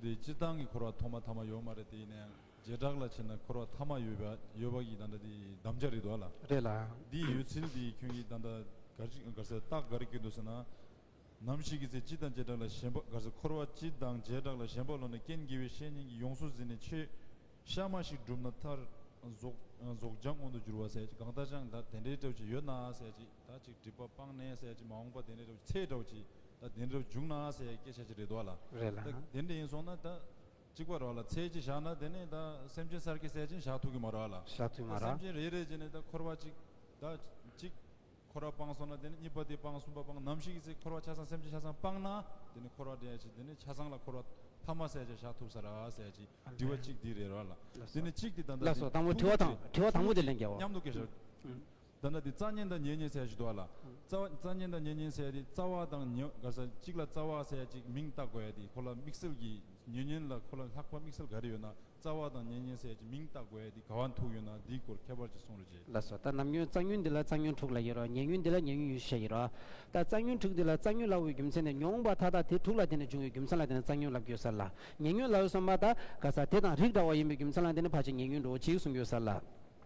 འདི་སྤྱིར་བཏང་གི་འཁོར་བ་ཐོག་མ་ཐ་མ་ཡོད་མ་རེད་དེ་ཡིན་ན་ཡང་བྱེ་བྲག་ལ་ཕྱིན་ན་འཁོར་བ་ཐ་མ་ཡོད་པ་ཡོད་པ་གྱི་ད་ལྟ་འདི་བསྡམ་བྱ་རེད་འདུག་ལ། རེད་ལ། འདི་ཡོད་ཚུལ་འདི་ཁྱོད་ཀྱིས་ད་ལྟ་གར་ཟེར་རྟགས་གར་བསྐྱུར་འདུག་ཟེར་ན། ནམ་ཞིག་གི་ཚེ་སྤྱི་དང་བྱེ་བྲག་ལ་ཞེན་པ་གར་ཟེར་འཁོར་བ་སྤྱི་དང་བྱེ་བྲག་ལ་ཞེན་པ་ལོག་ནས་རྐྱེན་དགེ་བའི་བཤེས་གཉེན་གྱིས་ཡོངས་སུ་ཟིན་ནས་ཆོས་གཤའ་མ་ཞིག་བསྒྲུབས་ན་མཐར། རྫོགས་བྱང་མངོན་དུ་འགྱུར་བ་ཟེར་ཅིག་གང་ལྟར་ཅང་ད་དེ་འདྲའི་སྤྲོས་བཅས་ཡོད་ན་ཟེར་ཅིག། ད་ཅིག་སྒྲིབ་པ་སྤངས་ནས་ཟས་ཀྱི་མ་འོངས་པ་དེ་འདྲའི་རབ་ཚེའི་གྲོགས་ཀྱིས་ད་དེ་འདྲར་འཇུག་ན་ཟས་སྐྱེ་བྱ་ཅི་རེད་དོ། རེད་ལ། ད་དེ་འདྲ་ཡིན་སོང་ན་ད། གཅིག་པ་རོགས་ལ་ཚེ་སྐྱེ་བཞག་ན་དེ་ནས་ད་སེམས་ཅན་གསར་སྐྱེ་ཟས་སྦྱིན་བཞག་ཐུག་གི་མ་རོགས་ལ། བཞག་ཐུག་མ་ད་སེམས་རོགས། ཅན་རེ་རེ་བྱས་ནས་ད་འཁོར་བ་གཅིག། ད་གཅིག། འཁོར་བ་སྤངས་སོང་ན་དེ་ནས་གཉིས་པ་དེ་སྤངས་གསུམ་པ་སྤངས་ནམ་ཞིག་གི་ཚེ་འཁོར་བ་ཆ་ཚང་སེམས་ཅན་ཆ་ཚང་སྤངས་ན་དེ་ནས་འཁོར་བ་འདྲེན་ཡ་ཅིག་དེ་ནས་ཆ་ཚང་ལ་འཁོར་བ་ཐ་མ་ཟས་བྱས་བཞག་ཐུབ་ས་ར་ཟས་ཀྱི་དྲི་བ་གཅིག་འདི་རེད་རོགས་ལ། དེ་ནས་གཅིག་དེ་ད་ད་ལ་དེ་སོ་དང་པོ་དྲི་བ་དང་དྲི་བ་དང་པོ་དེ་ལན་རྒྱལ་བ། མཉམ་དུ་སྐྱེ་བཞག། ད་ནི་དེ་རྩ་ཉེན་དང་ཉེ་ཉེན་ཟས་ཞེས་འདོགས་ལ། རྩ་བ། རྩ་ཉེན་དང་ཉེ་ཉེན་ཟས་དེ་རྩ་བ་དང་ཉེ་བ་ག་ས་གཅིག་ལ་རྩ་བ་ཟས་གཅིག་མིང་བཏགས་དགོས་ཡ་དེ་ཁོ་ལ་དམིགས་བསལ་གྱི་ཉེ་ཉེན་ལ་ཁོ་ལ་ལྷག་པ་དམིགས་བསལ་ག་རེ་ཡོད་ན་རྩ་བ་དང་ཉེ་ཉེན་ཟས་ཀྱི་མིང་བཏགས་དགོས་ཡ་དེ་ག་བ་འཐུག་ཡོད་ན་དེའི་སྐོར་ཁྱད་པར་གྱི་གསུང་རོ་རྗེ། ལ་སོགས་ལྟར་ནམ་ཉོན་རྩ་ཉོན་འདི་ལ་རྩ་ཉོན་དྲུག་ལ་ཡོད་རོ་ཉེ་ཉོན་འདི་ལ་ཉེ་ཉོན་ཡུལ་ཤེས་ཡིན་རོ། ལྟར་རྩ་ཉོན་དྲུག་འདི་ལ་རྩ་ཉོན་ལ་འོས་རྒྱུ་མཚན་ནི་མྱོང་བ་མཐའ་དག་དེ་དྲུག་ལ་བརྟེན་ནས་འབྱུང་བའི་རྒྱུ་མཚན་ལ་བརྟེན་ནས་རྩ་ཉོན་ལ་འགྱུར་ས་ལ། ཉེ་ཉོན་ལ་འོས་སམ་མ་ལྟ་ག་ས་དེ་དང་རིགས་འདྲ་བ་ཡིན་པའི་རྒྱུ་མཚན་ལ་བརྟེན་ནས་ཕར་ཕྱིན་ཉེ་ཉོན་འགྲོ་བ་གཅིག་གསུང་འགྱུར་ས་ལ།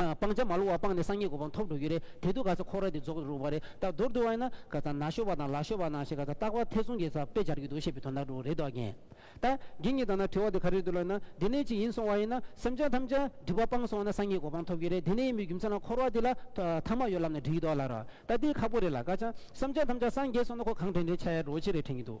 སྤང་བྱ་མ་ལུས་བ་སྤངས་ནས་སངས་རྒྱས་གོ་འཕང་ཐོབ་འགྲོ་གི་རེད་དེ་དུས་ག་ཚོད་ཁོག་ར་དེ་རྫོགས་རུག་པ་རེད་ད་མདོར་བསྡུ་བ་ཡིན་ན་ག་ཚ་ན་ཤོར་བ་དང་ལ་ཤོར་བ་ན་ཞེས་ག་ཚ་སྟག་པ་ཐེ་ཚོམ་གྱི་ཚ་དཔེ་སྦྱར་གྱི་འདུག་བཤད་པའི་དོན་དག་འགྲོ་གི་རེད་དོ་རྒན། ད་རྒན་གྱིས་ད་ན་དྲི་བ་དེ་ག་རེད་འདུག་ལབ་ན་དེ་ནས་ཅིག་ཡིན་སོང་བ་ཡིན་ན་སེམས་ཅན་ཐམས་ཅད་སྒྲིབ་པ་སྤངས་སོང་བ་ན་སངས་རྒྱས་གོ་འཕང་ཐོབ་གི་རེད་དེ་ནས་ཡིན་པའི་རྒྱུ་མཚན་ལ་ཁོག་ར་དེ་ལ་ཐ་མ་ཡོད་ལབ་ན་འགྲིག་གི་འདུག་ལ་རོ། ད་འདི་ཁག་པོ་རེད་ལ་ཀ་ཅང་སེམས་ཅན་ཐམས་ཅད་སངས་རྒྱས་སོང་ན་ཁོ་གང་དྲན་དྲན་ཆ་ཡ་བྲོ་ཆེ་རེད་དྲན་གྱི་འདུག།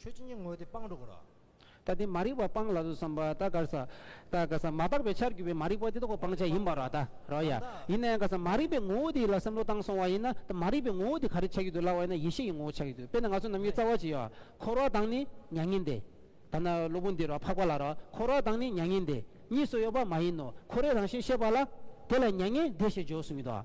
ཆོས་ཀྱི་ཉིད་དངོས་དེ་སྤངས་འགྲོ་གོ། ད་དེ་མ་རིག་པ་སྤངས་ལ་བསམ་པ་ད་ག་ས། ད་ག་ས་མ་དག་པའི་ཆར་གྱུར་པའི་མ་རིག་པ་དེ་དག་གོ་སྤང་བྱ་ཡིན་པར་རོ། ད་རོ་ཡ། ཡིན་ན་ཡང་ག་ས་མ་རིག་པའི་ངོ་བོ་དེ་ལ་བསམ་བློ་བཏང་སོང་བ་ཡིན་ན་ད་མ་རིག་པའི་ངོ་བོ་དེ་ག་རེ་ཆགས་ཀྱི་འདུག་ལབ་བ་ཡིན་ན་ཡེ་ཤེས་ཀྱི་ངོ་བོ་ཆགས་ཀྱི་འདུག་དཔེར་ན་ང་ཚོ་ནམ་མཁའི་རྩ་བ་ཅི་ཡོད་ཨ། འཁོར་བ་དང་ནི་མྱ་ངན་འདས། ད་ན་སློབ་བུ་འདི་རོ་འཕགས་པ་ལ་རོ། འཁོར་བ་དང་ནི་མྱ་ངན་འདས་གཉིས་སུ་ཡོད་པ་མ་ཡིན་ནོ། འཁོར་བའི་རང་བཞིན་ཤེས་པ་ལ། དེ་ལ་མྱ་ངན་འདས་ཞེས་བརྗོད་གསུངས་ཀྱི་འདུག་ཨ།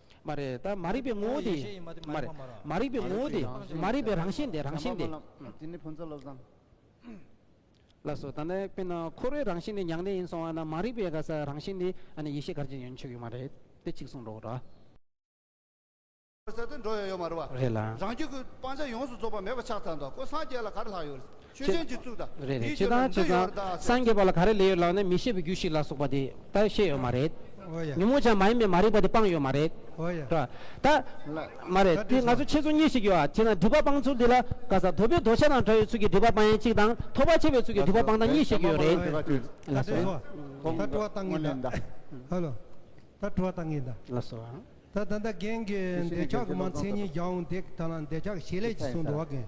མ་རིག་པའི་ངོ་བོ་དེ་མ་རིག་པའི་ངོ་བོ་དེ་མ་རིག་པའི་རང་བཞིན་དེ་རང་བཞིན་དེ། ཟླ་མ་བོ་ལགས། དེ་ནི་ཕོ་མཚན་བློ་བཟང། ལགས་སོ། ད་ནི་དཔེར་ན་འཁོར་བའི་རང་བཞིན་ནི་མྱང་འདས་ཡིན་སོང་བ་ན་མ་རིག་པའི་ག་ས་རང་བཞིན་ནི་ཨ་ནི་ཡེ་ཤེས་གར་གྱི་ཡོན་ཆོད་ཡོད་མ་རེད་དེ་གཅིག་གསུངས་འགྲོ་གྲ། ས་དེ་འགྲོ་ཡོད་ཡོད་མ་རེད་བ། རེད་ལགས། རང་རྒྱུད་ཀྱི་སྤང་བྱ་ཡོངས་སུ་རྫོགས་པ་མེད་པ་ཕྱག་འཚལ་འདུག་ཁོ་སངས་རྒྱས་ལ་ག་རེ་ལྷག་ཡོད། ཆོས་ཅན་གྱི་གཙུག་དང་རེད་རེད་དེའི་ཁྱེད་རྒྱུད་ལ་དང་འདི་ཁྱེད་ཡོད་རེད་ཚང་སངས་རྒྱས་པ་ལ་ག་རེ་ལས་ཡོད་ལགས་ནས་མི་ཤེས་པའི་རྒྱུ་ཞིག་ལ་སོགས་པ་དེ་ད་ཤེས་ཡོད་མ་རེད་འོ་ཡ། ཉོན་མོངས་ཆ་མ་ཡིན་པའི་མ་རིག་པ་དེ་སྤངས་ཡོད་མ་རེད་འོ་ཡ། ད་ད་མ་རེད་དེ་ང་ཚོ་ཁྱེད་ཚོ་གཉིས་ཤིག་ཡོད་ཨ་ཅེ་ན་སྒྲིབ་པ་སྤངས་ཚུལ་འདི་ལ་བཀའ་ཟ་དོལ་པོའི་རྡོ་ཆས་དང་འདྲ་བའི་ཚུལ་གྱི་སྒྲིབ་པ་སྤང་ཡན་གཅིག་དང་ཐོགས་པ་ཆད་པའི་ཚུལ་གྱི་སྒྲིབ་པ་སྤང་དང་གཉིས་ཤིག་ཡོད་རེད་འོ་ཡ། ད་ལ་འདི་སོ། ད་སྤྲོ་བ་བཏང་ངེས་གདའ། ཧ་ལོ། ད་སྤྲོ་བ་བཏང་ངེས་གདའ། ལ་སོ། ད་ད་ད་རྒན་གྱི་འདོད་ཆགས་གི་མ་མཚན་ཉིད་བརྒྱ་འོང་འདེགས་ད་ལ་འདོད་ཆགས་ཞེས་ལས་ཀྱིས་བཟུང་འགྲོ་བ་རྒན།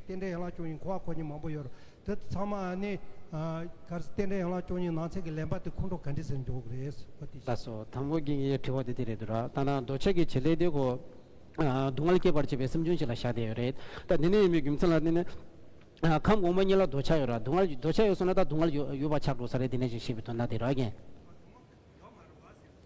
རྟེན་འབྲེལ་ཡན་ལག་བཅུ་གཉིས་འཁོར་བ་འཁོར་གྱིན་མང་པོ་ཡོད། དེ་ཚང་མ་ནི། གལ་སྲིད་རྟེན་འབྲེལ་ཡན་ལག་བཅུ་གཉིས་ནང་ཚན་གྱི་ལེན་པ་དེ་ཁོང་ཁྲོ་ག་འདྲི་ཟེར་འཇོག་གི་རེད། བ་དེ་ཤེས། དང་པོ་རྒན་གྱི་དྲི་བ་དེ་དེ་རེད་འདུག་ར། ད་ནང་རྡོ་ཆས་ཀྱི་བྱེད་ལས་དེ་གོ། སྡུག་བསྔལ་སྐྱེད་པར་བྱེད་པའི་སེམས་བྱུང་ཞིག་ལ་བཞག་བསྡད་ཡོད་རེད། ད་འདི་ནས་ཡིན་པའི་རྒྱུ་མཚན་ལ་བརྟེན་ནས། ཁམས་གོང་མ་གཉིས་ལ་རྡོ་ཆས་ཡོད་ར། སྡུག་བསྔལ་རྡོ་ཆས་ཡོད་སོང་ན་ད་སྡུག་བསྔལ་ཡོད་པ་ཆགས་འགྲོ་ས་རེད་འདི་ནས་ཀྱང་ཤེས་པའི་དོན་ན་དེ་ར་རྒན།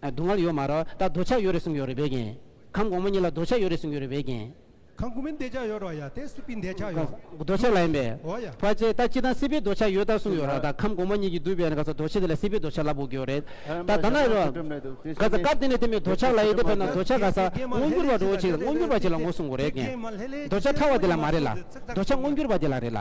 སྡུག་བསྔལ་ཡོད་མ་ར་ད་རྡོ་ཆག་ཡོད་རེད་གསུངས་ཡོད་རེད་བས་ཀྱིན། ཁམས་གོང་མ་གཉིས་ལ་རྡོ་ཆག་ཡོད་རེད་གསུངས་ཡོད་རེད་བས་ཀྱིན། ཁམས་གོང་མའི་འདས་ཆག་ཡོད་ར་ཡ་དེ་སྲིད་པའི་འདས་ཆག་ཡོད་རྡོ་ཆག་ལ་ཡིན་པས། འོ་ཡ། བ་ཅས་ད་སྤྱི་དང་སྲིད་པའི་རྡོ་ཆག་ཡོད་ད་གསུངས་ཡོད་ར་ད་ཁམས་གོང་མ་གཉིས་ཀྱི་བསྡུས་པའི་ན་ག་ཚ་རྡོ་ཆག་དེ་ལ་སྲིད་པའི་རྡོ་ཆག་ལབ་དགོས་ཀྱི་ཡོད་རེད་ད་ད་ན་རོ། ག་ཚ་སྐབས་དེ་ནས་དེ་མིན་རྡོ་ཆག་ལ་ཡེ་དེ་བས་ན་རྡོ་ཆག་ག་ས་སྔོ་འགྱུར་བ་འགྲོ་བོ་ཅིག་ལ་སྔོ་འགྱུར་བ་ཅིག་ལ་ངོ་གསུངས་དགོས་རེད་ཀྱིན། རྡོ་ཆག་ཕྲ་བ་དེ་ལ་མ་རེད་ལ་རྡོ་ཆག་སྔོ་འགྱུར་བ་དེ་ལ་རེད་ལ།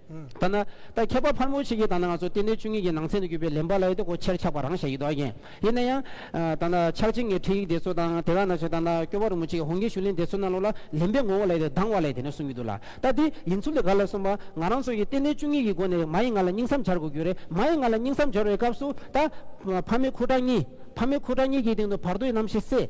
ཐ་ན། ད་མཁས་པ་ཕར་མོ་ཆེ་གིས་ད་ནི་ང་ཚོ་ལྟེ་གནས་བཅུ་གཉིས་ཀྱི་ནང་ཚན་དུ་གྱུར་པའི་ལེན་པ་ལ་ཡོད་དེ་གོ་ཕྱིར་འཁྱག་པ་རང་བཞག་ཡིད་དོ་ཡན། ཡིན་ན་ཡང། ད་ནི་ཕྱག་ཆེན་གྱི་ཁྲིད་ཡིག་དེ་ཚོ་དང་དེ་བས་ན་ཆོས་དར་ནག་སྐྱོ་བ་རིན་པོ་ཆེ་གི་ཧོང་ཀེ་ཞུ་ལིན་དེ་ཚོ་ནང་ལོགས་ལ་ལེན་པའི་ངོ་བོ་ལ་ཡོད་དེ་སྡང་བ་ལས་དེ་ནས་གསུང་གི་འདུག་ལ། ད་དེ་ཡིན་ཚུལ་དེ་ག་ལ་གསུངས་པ། ང་རང་ཚོ་ཡི་ལྟེ་གནས་བཅུ་གཉིས་ཀྱི་སྒོ་ནས་མ་ཡི་ང་ལ་སྙིང་བསམ་འཆར་དགོས་རྒྱུ་རེད་མ་ཡི་ང་ལ་སྙིང་བསམ་འཆོར་བའི་སྐབས་སུ། ད། ཕ་མའི་ཁུ་ཁྲག་གཉིས། ཕ་མའི་ཁུ་ཁྲག་གཉིས་ཀྱི་སྟེང་དུ་བར་དོའི་རྣམ་ཤེས་བསྲེས།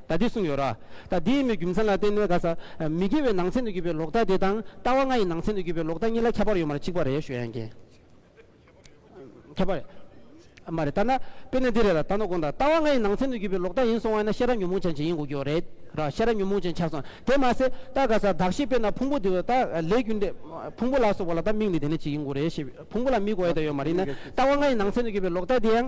ད་དེ་གསུངས་ཡོད་ར། ད་དེའི་མོད་རྒྱུ་མཚན་ལ་བརྟེན་ནས་ག་ས། མི་དགེ་བའི་ནང་ཚན་དུ་གྱུར་པའི་ལོག་ལྟ་དེ་དང་ལྟ་བ་ལྔ་ཡི་ནང་ཚན་དུ་གྱུར་པའི་ལོག་ལྟ་གཉིས་ལ་ཁྱད་པར་ཡོད་མ་རེད་གཅིག་པ་རེད་ཞུ་ཡ་ཡིན་གྱི། ཁྱད་པར་ཡོད། མ་རེད་ལྟ་ན། དཔེར་ན་འདི་རེད་ལ་ད་ནོར་དགོངས་དང་ལྟ་བ་ལྔ་ཡི་ནང་ཚན་དུ་གྱུར་པའི་ལོག་ལྟ་ཡིན་སོང་བ་ཡིན་ན་ཤེས་རབ་ཉོན་མོངས་ཅན་གྱི་ཡིན་དགོས་ཀྱི་ཡོད་རེད་ར་ཤེས་རབ་ཉོན་མོངས་ཅན་ཆགས་སོང་དེ་མ་ཟད་ད་ག་ས་གདགས་གཞི་དཔེར་ན་ཕུང་པོ་དེ་བས་ད་ལས་རྒྱུ་འབྲས། ཕུང་པོ་ལ་སོགས་པ་ལ་ད་མིག་ནི་དེ་ནས་གཅིག་ཡིན་དགོས་རེད་ཤེས་ཕུང་པོ་ལ་མིག་གོ་ཡ་ད་ཡོད་མ་རེད་ནི་ལྟ་བ་ལྔ་ཡི་ནང་ཚན་དུ་གྱུར་པའི་ལོག་ལྟ་དེའང།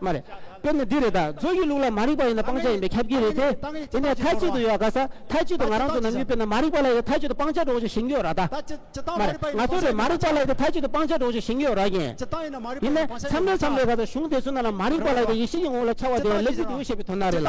མ་རེད། དཔེར་ན་འདི་རེད་ད། མཛོ་ཡི་ལུགས་ལ་མ་རིག་པ་ཡིན་ན་སྤང་བྱ་ཡིན་པའི་ཁྱབ་ཀྱི་རེད་དེ། དེ་ནས་མཐའ་གཅིག་ཏུ་ཡོད་དགའ་ས། མཐའ་གཅིག་ཏུ་ང་རང་ཚོ་ནམ་རྒྱུན་དཔེར་ན་མ་རིག་པ་ལ་ཡོད་མཐའ་གཅིག་ཏུ་སྤང་བྱ་འགྲོ་བཞིན་ཞིང་ཡོད་ར་ད། མ་རེད། ང་ཚོ་རེད་མ་རིག་པ་ལ་ཡོད་དེ་མཐའ་གཅིག་ཏུ་སྤང་བྱ་འགྲོ་བཞིན་ཞིང་ཡོད་ར་ཡིན། ཡིན་ནས། མཚམས་རེ་མཚམས་རེ་ག་ཚོད་གཞུང་དེ་ཚོ་ན་ལ་མ་རིག་པ་ལ་ཡོད་དེ་ཡེ་ཤེས་ཀྱི་ངོ་བོ་ལ་འཆར་བ་དེ་ཡང་ལེགས་ཀྱི་འདུག་ཞེས་པའི་དོན་ན་རེད་ལ།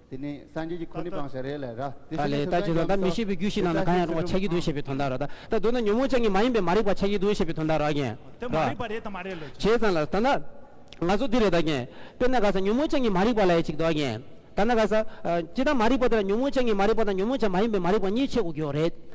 དེ་ནི་སངས་རྒྱས་ཀྱི་ཁོ་ནའི་བག་ཆགས་རེད་ལ། ད་ལས་ད་ཇི་ལྟར་ད་མི་ཤེས་པའི་རྒྱུད་ཤིག་ནང་ན་གང་ཡང་རུང་བ་ཆགས་ཀྱི་འདུག་ཞེས་པའི་དོན་དག་ར། ད་མདོར་ན་ཉོན་མོངས་ཅན་གྱི་མ་ཡིན་པའི་མ་རིག་པ་ཆགས་ཀྱི་འདུག་ཞེས་པའི་དོན་དག་ར་རྒན། དེ་མ་རིག་པ་རེད་དམ་མ་རེད་ལོ་རྒན། བྱས་ཙང་ལ། ད་ན་ང་ཚོ་འདི་རེད་ད་རྒན། དཔེར་ན་ག་ས་ཉོན་མོངས་ཅན་གྱི་མ་རིག་པ་ལ་ཡ་གཅིག་འདུག་ཨ་རྒན། ད་ན་ག་ས། ཅི་ལྟར་མ་རིག་པ་དེ་ལ་ཉོན་མོངས་ཅན་གྱི་མ་རིག་པ་དང་ཉོན་མོངས་ཅན་མ་ཡིན་པའི་མ་རིག་པ་གཉིས་ཆེད་དུ་གྱུར་བ་རེད།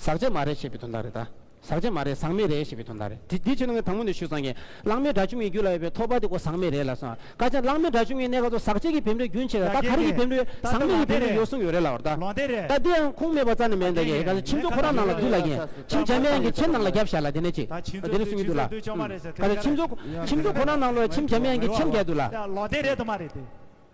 ཟག་བྱེད་མ་རེད་ཞེས་པའི་དོན་དག་རེད་ད། ཟག་བྱེད་མ་རེད་ཟག་མེད་རེད་ཞེས་པའི་དོན་དག་རེད། དེ་ཆོས་ནང་ངས་དང་པོ་ནས་ཞུ་ཚང་གིན། གླང་མའི་སྒྲ་བཅུ་གཉིས་རྒྱུད་ལ་ཡོད་པའི་ཐོགས་པ་དེ་ཀོ་ཟག་མེད་རེད་ལ་སོང། ཀ་ཅང་གླང་མའི་སྒྲ་བཅུ་གཉིས་གནས་སྐབས་སུ་ཟག་བྱེད་ཀྱི་བེམ་རོའི་རྒྱུན་ཆད་ད། ད་ག་རེ་གྱི་བེམ་རོའི་ཟག་མེད་ཀྱི་བེམ་རོའི་ཡོད་གསུངས་ཡོད་རེད་ལ་བར་ད། ད་འདི་ཡང་ཁུངས་མེད་པ་རྩ་ནས་མེད་འདི་གི། ད་ཁྱིམ་ཚོགས་ཁོ་རང་ནང་ལ་འདུས་ལ་གྱིན། ཁྱིམ་བྱ་མའི་ཡང་གི་ཁྱིམ་ནང་ལ་རྒྱབ་བཞག་ལ་དེ་ནས་ཅིག། དེ་ནས་གསུངས་ཀྱི་འདུག་ལ། ཁྱིམ་ཚོགས་ཁྱིམ་ཚོགས་ཁོ་རང་ནང་ལོ་ཡང་ཁྱིམ་བྱ་མའི་ཡང་གི་ཁྱིམ་རྒྱག་འདུག་ལ།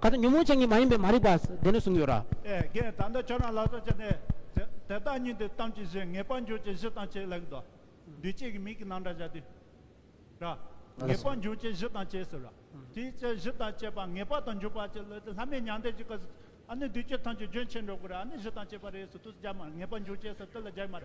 ཁ་ཏོན་ཉོན་མོངས་ཅན་གྱི་མ་ཡིན་པའི་མ་རིག་པ་དེ་ནི་གསུངས་ཡོད་ར། ཨེ། ད་ལྟ་ཁྱོད་རང་ལག་ལྟ་བྱས་ནས། དེ་བདག་ཉིད་དེ་གཏམ་གྱི་གཞི་ངེས་པར་འཇོག་བྱེད་གཞི་དང་བྱེད་ལེགས་དོ། འདུས་བྱས་ཀྱི་མིག་གི་ནང་འདྲ་བྱ་སྟེ། ར། ངེས་པར་འཇོག་བྱེད་གཞི་དང་བྱས་ཟེར་ར། དེའི་ཚེ་གཞི་དང་བྱས་པ་ངེས་པར་དང་འཇུག་པར་བྱེད་ལེགས་ཏེ་ལྷ་མིའི་མྱང་འདས་ཀྱི་སྐབས་སུ། ཨ་ནི་འདུས་བྱས་ཐམས་ཅད་རྒྱུན་ཆད་འགྲོ་དགོས་ར་ཨ་ནི་གཞི་དང་བྱས་པ་རེས་སུ་དུས་སུ་སྦྱར་མ་ར་ངེས་པར་འཇུག་བྱེད་ས་དེ་ལ་སྦྱར་མ་ར།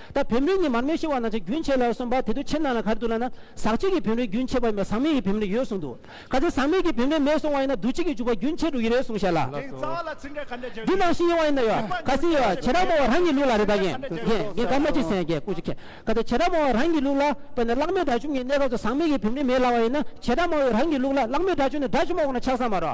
ད་བེམ་རོའི་ཉི་མར་མེ་ཤི་བ་ན་ཆ་རྒྱུན་ཆད་ལ་གསུངས་པ་དེ་དུས་ཕྱི་ནང་ལ་གར་འདུག་ལ་ན་ཟག་བཅས་ཀྱི་བེམ་རོའི་རྒྱུན་ཆད་པ་ཡིན་པ་ཟག་མེད་ཀྱི་བེམ་རོའི་ཡོད་གསུངས་འདུག་ག་ཚད་ཟག་མེད་ཀྱི་བེམ་རོའི་མེད་གསུངས་བ་ཡིན་ན་འདུ་བྱེད་ཀྱི་འཇུག་པ་རྒྱུན་ཆད་འགྲོ་ཡི་རེད་གསུངས་བྱས་ལ། འདི་ནང་བཞིན་ཡིན་བ་ཡིན་ན་ཡོད་ག་ཚད་ཡོད་བྱེད་རང་མོ་བ་རང་གི་ལུགས་ལ་རེད་ད་གན་གན་གན་ག་མ་ཅི་སན་གན་ཀུ་ཅི་ཁན་ག་ཚད་བྱེད་རང་མོ་བ་རང་གི་ལུགས་ལ་དཔེར་ན་གླག་མེད་དགྲ་བཅོམ་གྱི་གནས་སྐབས་སུ་ཟག་མེད་ཀྱི་བེམ་རོའི་མེད་ལ་བ་ཡིན་ན་བྱེད་རང་མོ་བའི་རང་གི་ལུགས་ལ་གླག་མེད་དགྲ་བཅོམ་ནི་དགྲ་བཅོམ་བ་ཁོ་ན་ཆགས་ས་མ་རོ།